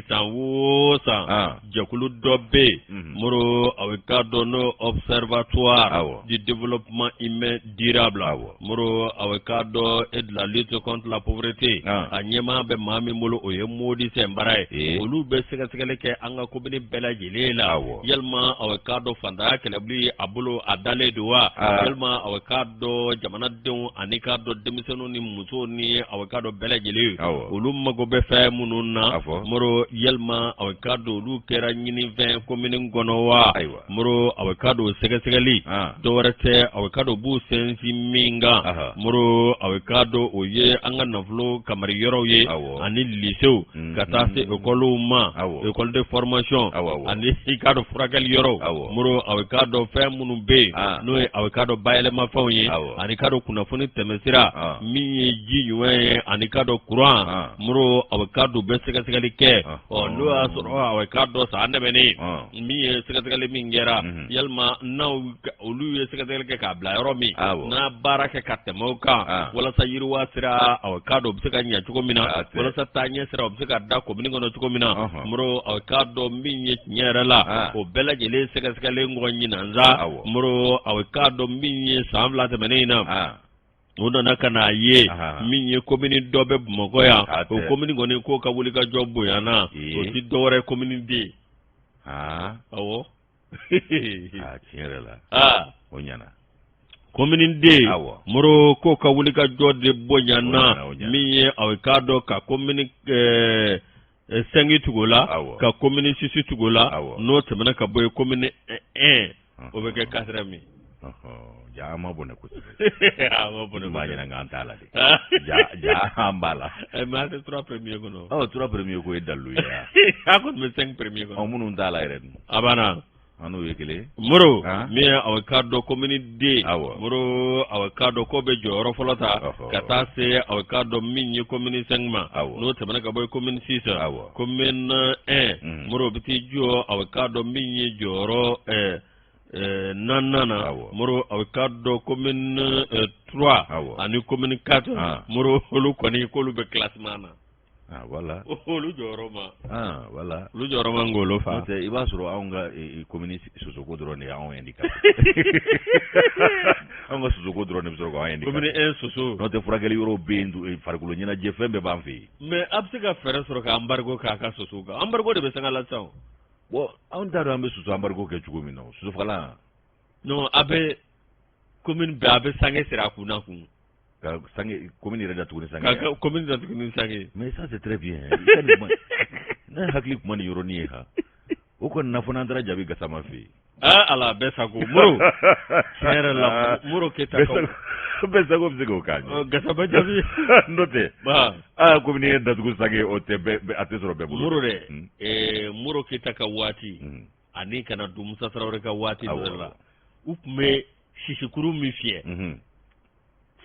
san wo san jɛkulu dɔ bɛ yen mhm. moro aw bɛ k'a dɔn n'o observatoire du développement humain durable awɔ moro aw bɛ k'a dɔn et de la lutte contre la pauvreté a ɲɛmaa bɛ maa min bolo o ye modi sinpara ye olu bɛ sɛgɛsɛgɛli kɛ an ka komini bɛɛ lajɛlen La awɔ. Yalima aw ye k'a dɔn fantanya kɛlɛbili a bolo a dalen don wa? Aa. Yalima aw ye k'a dɔn jamanadenw ani k'a dɔn denmisɛnninw ni musow ni aw ye k'a dɔn bɛɛ lajɛlen. Awɔ. Olu mago bɛ fɛn minnu na. A fɔ. Moro yalima aw ye k'a dɔn olu kɛra ɲininfɛn komini kɔnɔ wa? Ayiwa. Moro aw ye k'a dɔn o sɛgɛsɛgɛli. An. Dɔ wɛrɛ tɛ aw ye k'a dɔn u b'u sinsin min kan. Aha. Moro aw ye k'a dɔn o ye an ka nafolo kamari yɔrɔw ye. Awɔ. Ani lisew. mm-hmm. ka taa se ekɔliw ma école de formation ani i k'a dɔn furakɛli yɔrɔw moro a bɛ k'a dɔn fɛn minnu bɛ yen ah. n'o ye a bɛ k'a dɔn bayɛlɛmafɛnw ye ani k'a dɔn kunnafoni tɛmɛsira ah. min ye ji ɲuman ye ani k'a dɔn kuran ah. moro a bɛ k'a dɔn bɛɛ sɛgɛsɛgɛli kɛ ɔ n'o y'a sɔrɔ a bɛ k'a dɔn san tɛmɛnen min ye sɛgɛsɛgɛli min kɛra yalima n' olu ye sɛgɛsɛgɛli kɛ k'a bila yɔrɔ min n'a baara kɛ ka tɛmɛ o kan walasa yiriwa sira aw bɛ k'a dɔn bɛ se ka ɲɛ cogo min na walasa taaɲɛ sira o bɛ se ka da komini kɔnɔ cogo min na moro aw bɛ k'a dɔn min ye tiɲɛ yɛrɛ la o bɛɛ lajɛlen sɛgɛsɛgɛli ko ɲinina sa moro aw bɛ k'a dɔn min ye san fila tɛmɛnen in na u nana ka n'a ye min ye komini dɔ bɛ bamakɔ yan o komini kɔni k'o ka wuli ka jɔ bonyana o tɛ dɔwɛrɛ ye komini deux ye ɔwɔ tiɲɛ yɛrɛ la o ɲɛna komini deux moro k'o ka wuli ka jɔ de bonyana min ye aw k'a dɔn ka komini eh, cinq tugu la ka komini six tugu la n'o tɛmɛna ka bɔ yen komini un o bɛ kɛ quatrième jaa an ma bɔnɛ kosɛbɛ an ma bɔnɛ b'a ɲɛna k'an t'a la dɛ jaa jaa an b'a la eh, mais an tɛ trois premier kɔnɔ ɔ trois premier ko ye dalilu ye an kɔni bɛ cinq premier kɔnɔ ɔ minnu t'a la yɛrɛ dun a banna An n'o ye kelen moro min aw k'a dɔn komini deux moro aw k'a dɔn k'o bɛ jɔyɔrɔ fɔlɔ ta ka taa se aw k'a dɔn min ye komini cinq ma n'o tɛmɛna ka bɔ yen komini six komini un moro bɛ t'i jɔ aw k'a dɔn min ye jɔyɔrɔ ɛɛ Eh, naaninan na moro aw k'a dɔn komini eh, trois ani komini quatre ah. moro olu kɔni k'olu bɛ classement na Ah, voilà olu jɔyɔrɔ ma ah, voilà olu jɔyɔrɔ ma ngolo fa n'o tɛ i b'a sɔrɔ anw ka komini sosoko dɔrɔn de y'anw handicapé anw ka sosoko dɔrɔn de bɛ sɔrɔ k'an handicapé komini un soso n'o tɛ furakɛli yɔrɔ bɛ yen e, farikolo ɲɛnajɛ fɛn bɛɛ b'an fɛ yen mais a bɛ se ka fɛɛrɛ sɔrɔ ka embargo k'a ka soso kan embargo de bɛ sanga la sisan bon anw t'a dɔn an bɛ soso embargo kɛ cogo min na sosofagalan non a bɛ komini bɛɛ a bɛ sange siri a kun na kun Ka sanke commune yɛrɛ datugu ni sanke ye, ka commune datugu ni sanke ye, mais ça c'est très bien ne hakili tun ma nin yɔrɔnin ye han, o kɔni na fɔ n'an taara jaabi Gasama fɛ yen, aa Ala bɛɛ sago Moro, tiɲɛ yɛrɛ la Modibo Keyita kaw, bɛɛ sago bɛ se k'o k'a ɲɛ, Gasama jaabi, n'o tɛ, aa commune yɛrɛ datugu sanke o tɛ bɛɛ a tɛ sɔrɔ bɛɛ bolo, Moro dɛ, Modibo Keyita ka waati ani ka na don musa tarawele ka waati dɔ la u tun bɛ sisikuru min fiyɛ mhm.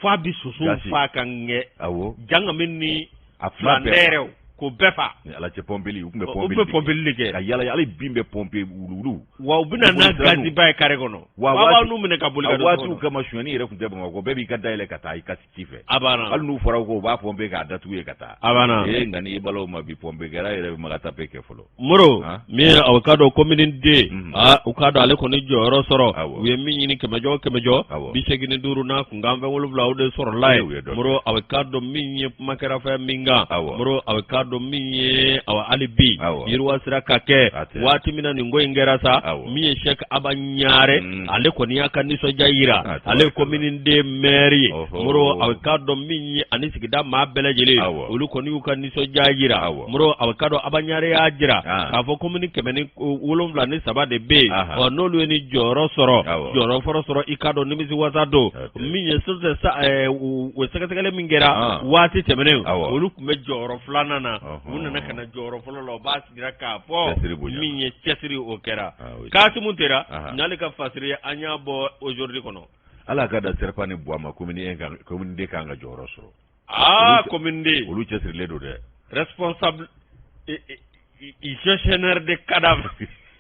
f'a bi soso fa ka ɲɛ janga min ni filan wɛrɛw k'o bɛɛ fa ala cɛ pɔnpeli u tun bɛ pɔnpeli u bɛ pɔnpeli de kɛ ka yala hali bin bɛ pɔnpe wuluwulu wa u bɛna n'a gaziba ye kare kɔnɔ aw b'a nun minɛ ka boli ka don waatiw comme sonyani yɛrɛ tun tɛ bamakɔ bɛɛ b'i ka da yɛlɛ ka taa i ka ci ci fɛ a banna hali n'u fɔra ko u b'a pɔnpe k'a datugu ye ka taa a banna ee nka n'i balaw ma bi pɔnpe kɛra yɛrɛ bɛ maga tape kɛ fɔlɔ moro ah. min ye aw k'a dɔn komini deux mhm. aa ah, aw k'a dɔn ale kɔni jɔyɔrɔ sɔrɔ u ye min ɲini kɛmɛjɔ kɛmɛjɔ bi seegin ni duuru n'a kunkan fɛn wolonwula o de sɔrɔla ye moro aw k'a dɔn min ye kuma kɛra fɛn min kan moro aw k'a dɔn min ye awa hali bi yiriwa sira ka kɛ waati min na nin ko in kɛra sa min ye sɛk aba ɲare mhm. ale kɔni y'a ka nisɔndiya jira ale ye komini deux mɛri ye moro a k'a dɔn min ye ani sigida maa bɛɛ lajɛlen olu kɔni y'u ka nisɔndiya jira moro a k'a dɔn aba ɲare y'a jira k'a fɔ komini kɛmɛ ni wolonwula ni saba de bɛ yen ɔ n'olu ye nin jɔyɔrɔ sɔrɔ jɔyɔrɔ fɔlɔ sɔrɔ i k'a dɔn nimisi wasa don min ye o sɛgɛsɛgɛli min kɛra waati tɛmɛnen olu tun bɛ jɔyɔrɔ filanan na u nana ka na jɔyɔrɔ fɔlɔ la Jira k'a fɔ cɛsiri bonyana, min ye cɛsiri o kɛra, ah oui, Kasimu Tera, anhan, n'ale ka fasiri an y'a bɔ aujourd'hui kɔnɔ, Ala ka da Serpa ni Buwa ma commune I kan commune II ka kan ka jɔyɔrɔ sɔrɔ, aa olu cɛ- commune II olu cɛsirilen don dɛ, responsable et- et- et gestionnaire de cadavre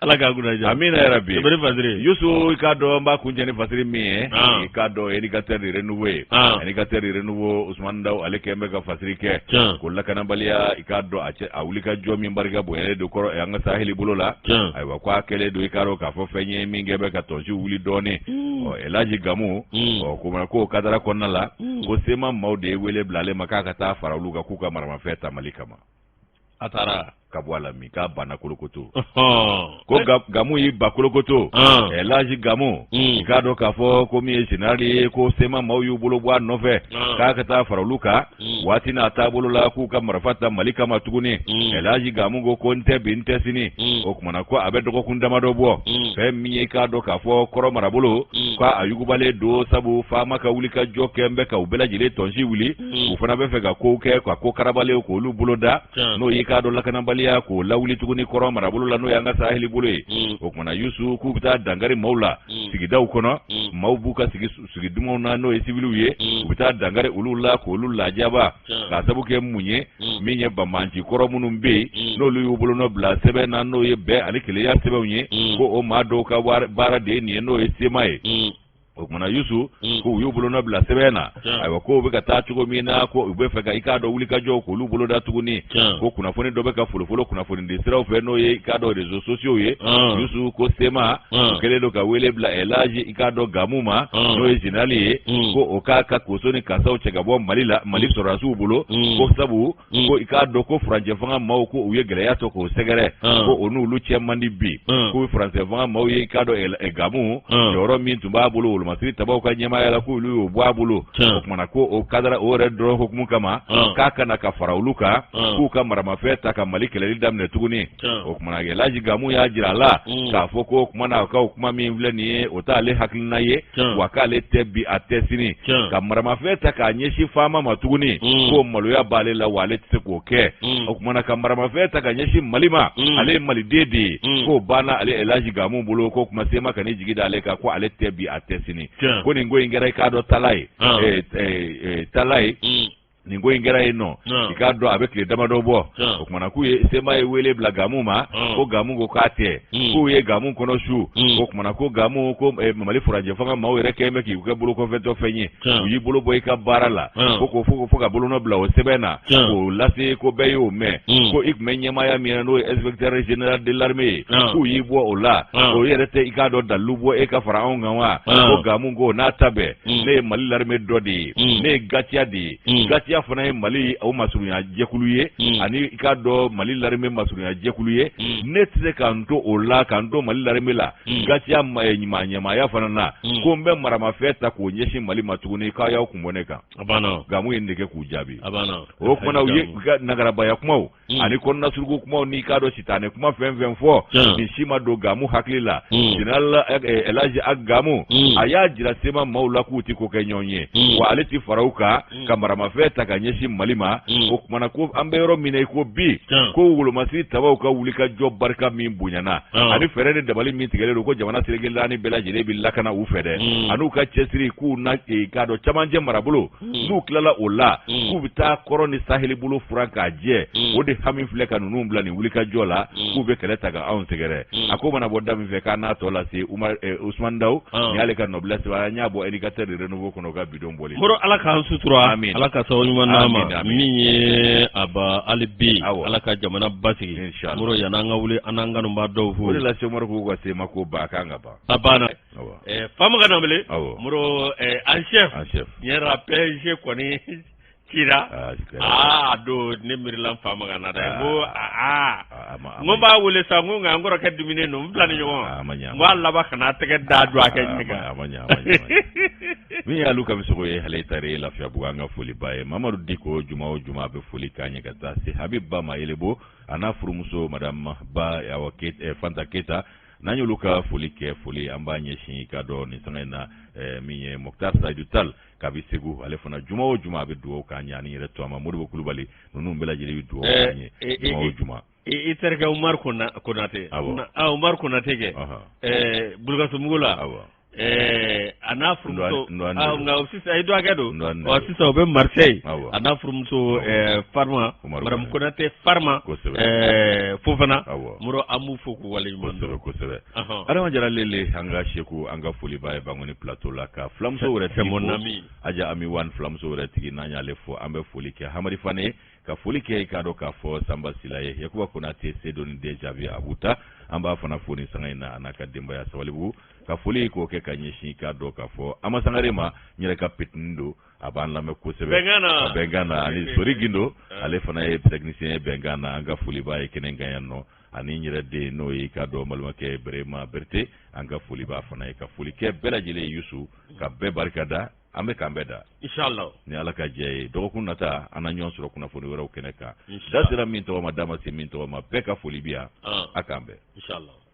Ala ka kunna diya. Amina ya rabi. Sɛbɛri Fasiri. Yusu i k'a dɔn n b'a kuncɛ ni Fasiri min ye. I k'a dɔn Indicateur du renouveau ye. Indicateur du renouveau Ousmane Dawu ale kɛlen bɛ ka Fasiri kɛ. Tiɲɛ. Ko lakanabaliya i k'a dɔn a cɛ a wuli ka jɔ min barika bonyalen don kɔrɔ an ka saheli bolo la. Tiɲɛ. Ayiwa ko a kɛlen don i k'a dɔn k'a fɔ fɛn ye min kɛlen bɛ ka tɔnsi wuli dɔɔni. Ɔ Elaji Gamu. O kuma na k'o kadara kɔnɔna la. Ko sema maaw de ye wele bila ale ma k'a ka taa fara olu kan k'u ka maramafɛn ta Mali kama. a taara ka bɔ a la min k'a banna kolokoto ko gamu y'i ban kolokoto elaji gamu i k'a dɔn k'a fɔ ko min ye zenerali ye ko sema maaw y'u bolo bɔ a nɔfɛ k'a ka taa fara olu kan waati n'a taabolo la k'u ka marifa ta mali kama tuguni elaji gamu ko ko n tɛ bi n tɛ sini o kuma na ko a bɛ dɔgɔkun damadɔ bɔ fɛn min ye k'a dɔn k'a fɔ kɔrɔ marabolo ko a yugubalen don sabu faama ka wuli ka jɔ kɛlen bɛ ka u bɛɛ lajɛlen tɔnsi wuli mm. u fana b'a fɛ ka kow kɛ ka ko karabalenw k'olu bolo da n'o y'i k'a dɔn lakanabaliya k'o lawuli tuguni kɔrɔ marabolo la n'o y'an ka saheli bolo ye mm. o kuma na yusu k'u bɛ taa dankari maaw la mm. sigidaw kɔnɔ maaw b'u ka sigi sigi dumanw na n'o ye sibiliw ye u bɛ taa dankari olu la k'olu lajaba k'a sabu kɛ mun ye min ye banbaanci kɔrɔ minnu bɛ yen n'olu y'u bolo nɔ bila sɛbɛn na n'o ye bɛn ani kelenya sɛbɛnw ye ko o maa dɔw ka baara de ye nin ye n'o ye sema ye o kuma na yusu mm. ko u y'u bolonɔ bila sɛbɛn na ayiwa ko u bɛ ka taa cogo min na ko u b'a fɛ ka i k'a dɔn wulikajɔw k'olu boloda tuguni ko kunnafoni dɔ bɛ ka folofolo kunnafonidi siraw fɛ n'o ye i k'a dɔn rezo sosiyow ye ah. yusu ko sema u ah. kɛlen don ka wele bila elaji i k'a dɔn gamu ma ah. n'o ye zenerali ye mm. ko o k'a ka koso ni kasaw cɛ ka bɔ mali la mali mm. sɔrɔdasiw bolo ko sabu Mm. ko i k'a dɔn ko furancɛfanga maaw ko u ye gɛlɛya sɔrɔ k'o sɛgɛrɛ mm. ko o n'olu cɛ man di bi mm. ko furancɛfanga maaw ye i k'a dɔn eh, gamu jɔyɔrɔ min tun b'a bolo wolomasiri tabaw ka ɲɛmaaya la k'olu y'o bɔ a bolo o kuma na ko o kadara o yɛrɛ dɔrɔn hukumu kama k'a ka na ka fara olu kan k'u ka maramafɛn ta ka mali kɛlɛli daminɛ tuguni o kumana elaji gamu y'a jira a la mm. k'a fɔ ko kuma na ka kuma min filɛ nin ye o t'ale hakilina ye wa k'ale tɛ bi a tɛ sini ka maramafɛn ta k'a ɲɛsin faama ma tuguni mm. ko maloya b'ale la wa ale tɛ se k'o kɛ mm. o kumana ka maramafɛn ta ka ɲɛsin mali ma ale ye maliden de ye k'o banna ale elaji gamu bolo ko kuma sema kan'i jigi da ale kan ko ale tɛ bi a tɛ sini ko nin ko in kɛra i k'a dɔn tala ye ah. eh, eh, eh, tala ye nin ko in kɛra yen nɔ i k'a dɔn a bɛ tile damadɔ bɔ o kumana k'u ye sema ye wele bila gamu ma ko gamu ko k'a tɛ hmm. k'u ye gamu kɔnɔ su hmm. o kumana ko gamu ko eh, mali furancɛ fanga maaw yɛrɛ kɛlen bɛ k'i kɛ bolokɔfɛtɔ fɛn ye u y'i bolo bɔ i ka baara la ko ko fo fo ka bolonɔ bila o sɛbɛn na k'o lase ko bɛɛ y'o mɛn hmm. ko i tun bɛ ɲɛmaaya min na n'o ye inspecteur general de l'armée ye k'u y'i bɔ o la o yɛrɛ tɛ i k'a dɔn dalilu bɔ e ka fara anw kan wa ko gamu ko n'a ta bɛɛ mm. ne ye mali larime dɔ de ye mm. ne ye gatiya de ye mm. gatiya fana ye mali o masurunya jɛkulu ye ani i k'a dɔn mali larime masurunya jɛkulu ye ne tɛ se ka n to o la ka n to mali larime la gatiya eh, ɲɛma ɲɛmaaya fana na ko n bɛ maramafɛn ta k'o ɲɛsin mali ma tuguni k'a y'aw kun bɔ ne kan gamu ye nin de kɛ k'u jaabi o kumana u ye nagarabaya kumaw Mm. ani kɔnɔna suruku kumaw n'i k'a dɔn sitanɛ kuma fɛn fɛn fɔ mm. nin si ma don gamu hakili la mm. general eh, eh, elaji ag gamu a y'a jira sema maaw la k'u tɛ kokɛɲɔgɔn ye wa ale tɛ fara u kan ka maramafɛn ta ka ɲɛsin mali ma o kumana ko an bɛ yɔrɔ min na i ko bi ko wolomasiri tabaw ka wuli ka jɔ barika min bonyana ani fɛɛrɛ ni dabali min tigɛlen don ko jamana seleke naani bɛɛ lajɛlen bɛ lakana u fɛ dɛ an'u ka cɛsiri k'u na eh, k'a dɔn camancɛ marabolo n'u tilala o la k'u bɛ taa kɔrɔn ni saheli bolo furan k'a jɛ o de hami filɛ ka ninnu bila nin wuli ka jɔ la k'u bɛ kɛlɛ taga anw sɛgɛrɛ a ko mana bɔ da min fɛ k'a n'a tɔ lase umar usman daw nin y'ale ka nɔbila sɛbɛn an y'a bɔ indicateur du renouveau kɔnɔ ka bi don bɔli moro ala k'an sutura amiina ala ka sababu ɲuman na an ma amiina yarabi hali bi ala ka jamana basigi moro yann'an ka wuli an n'an kanubaa dɔw fo lase k'u ka se ma ko ba kan ka ban famakan ma wele moro en chef en chef an yɛrɛ bɛɛ kɔni ci aa don ne miirila famakan na dɛ ko aa n b'a wele sa ko nka n kɔrɔkɛ dumuni don n filanin ɲɔgɔn n b'a laban ka na tɛgɛ da don a kɛ min y'alu kamisoko ye hali ta ye lafiyabugu an ka foli b'a ye mamadu diko juma o juma bɛ foli k'an ye ka taa se habib ba ma yɛlɛbo an'a furumuso madamu ba awa ke fanta keyita n'an y'olu ka foli kɛ foli an b'a ɲɛsin k'a dɔn nin sanga in na eh, min ye moktar saidu tal kabi segu ale fana juma o juma a bɛ dugawu k'an ye an'i yɛrɛ tɔgɔma modibo kulubali ninnu bɛɛ lajɛlen bɛ dugawu eh, k'an ye eh, juma o juma i terikɛ umar konate umar konate kɛ bulukasumbugu la a n'a furumuso nka sisan i dɔgɔkɛ don sisan u bɛ marisɛyi a n'a furumuso farima maramu konate farima fofana an b'u fo k'u waleɲumandɔn kosɛbɛ kosɛbɛ adama jara lele an ka seku an ka foli b'a ye bankoni pilato la ka filamuso wɛrɛ tɛ na aja ami wan filamuso wɛrɛ tigi n'an y'ale fo an bɛ foli kɛ hamari fanɛ ye ka foli kɛ k'a dɔn k'a fɔ sanba sila ye yakuba konate se dɔn den jaabi a b'u ta an b'a fana fo ni sanga in na a n'a ka denbaya sabalibugu ka foli k'o kɛ ka ɲɛsin k'a dɔn k'a fɔ ama sangare ma n yɛrɛ ka petini don a b'an lamɛn kosɛbɛ bɛnkan na ani sori gindo ale fana ye tɛkinisiyɛn ye bɛnkan na an ka foli b'a ye kɛnɛ in kan yan nɔ ani n yɛrɛ den n'o ye k'a dɔn balimakɛ berema berete an ka foli b'a fana ye ka foli kɛ bɛɛ lajɛlen ye yusu ka bɛɛ barika da an bɛ k'an bɛn da inisala ni ala ka jɛ ye dɔgɔkun nata an na ɲɔgɔn sɔrɔ kunnafoni wɛrɛw kɛnɛ kan da sera min tɔgɔ ma da ma se min tɔgɔ ma bɛɛ ka foli bi yan a k'an bɛn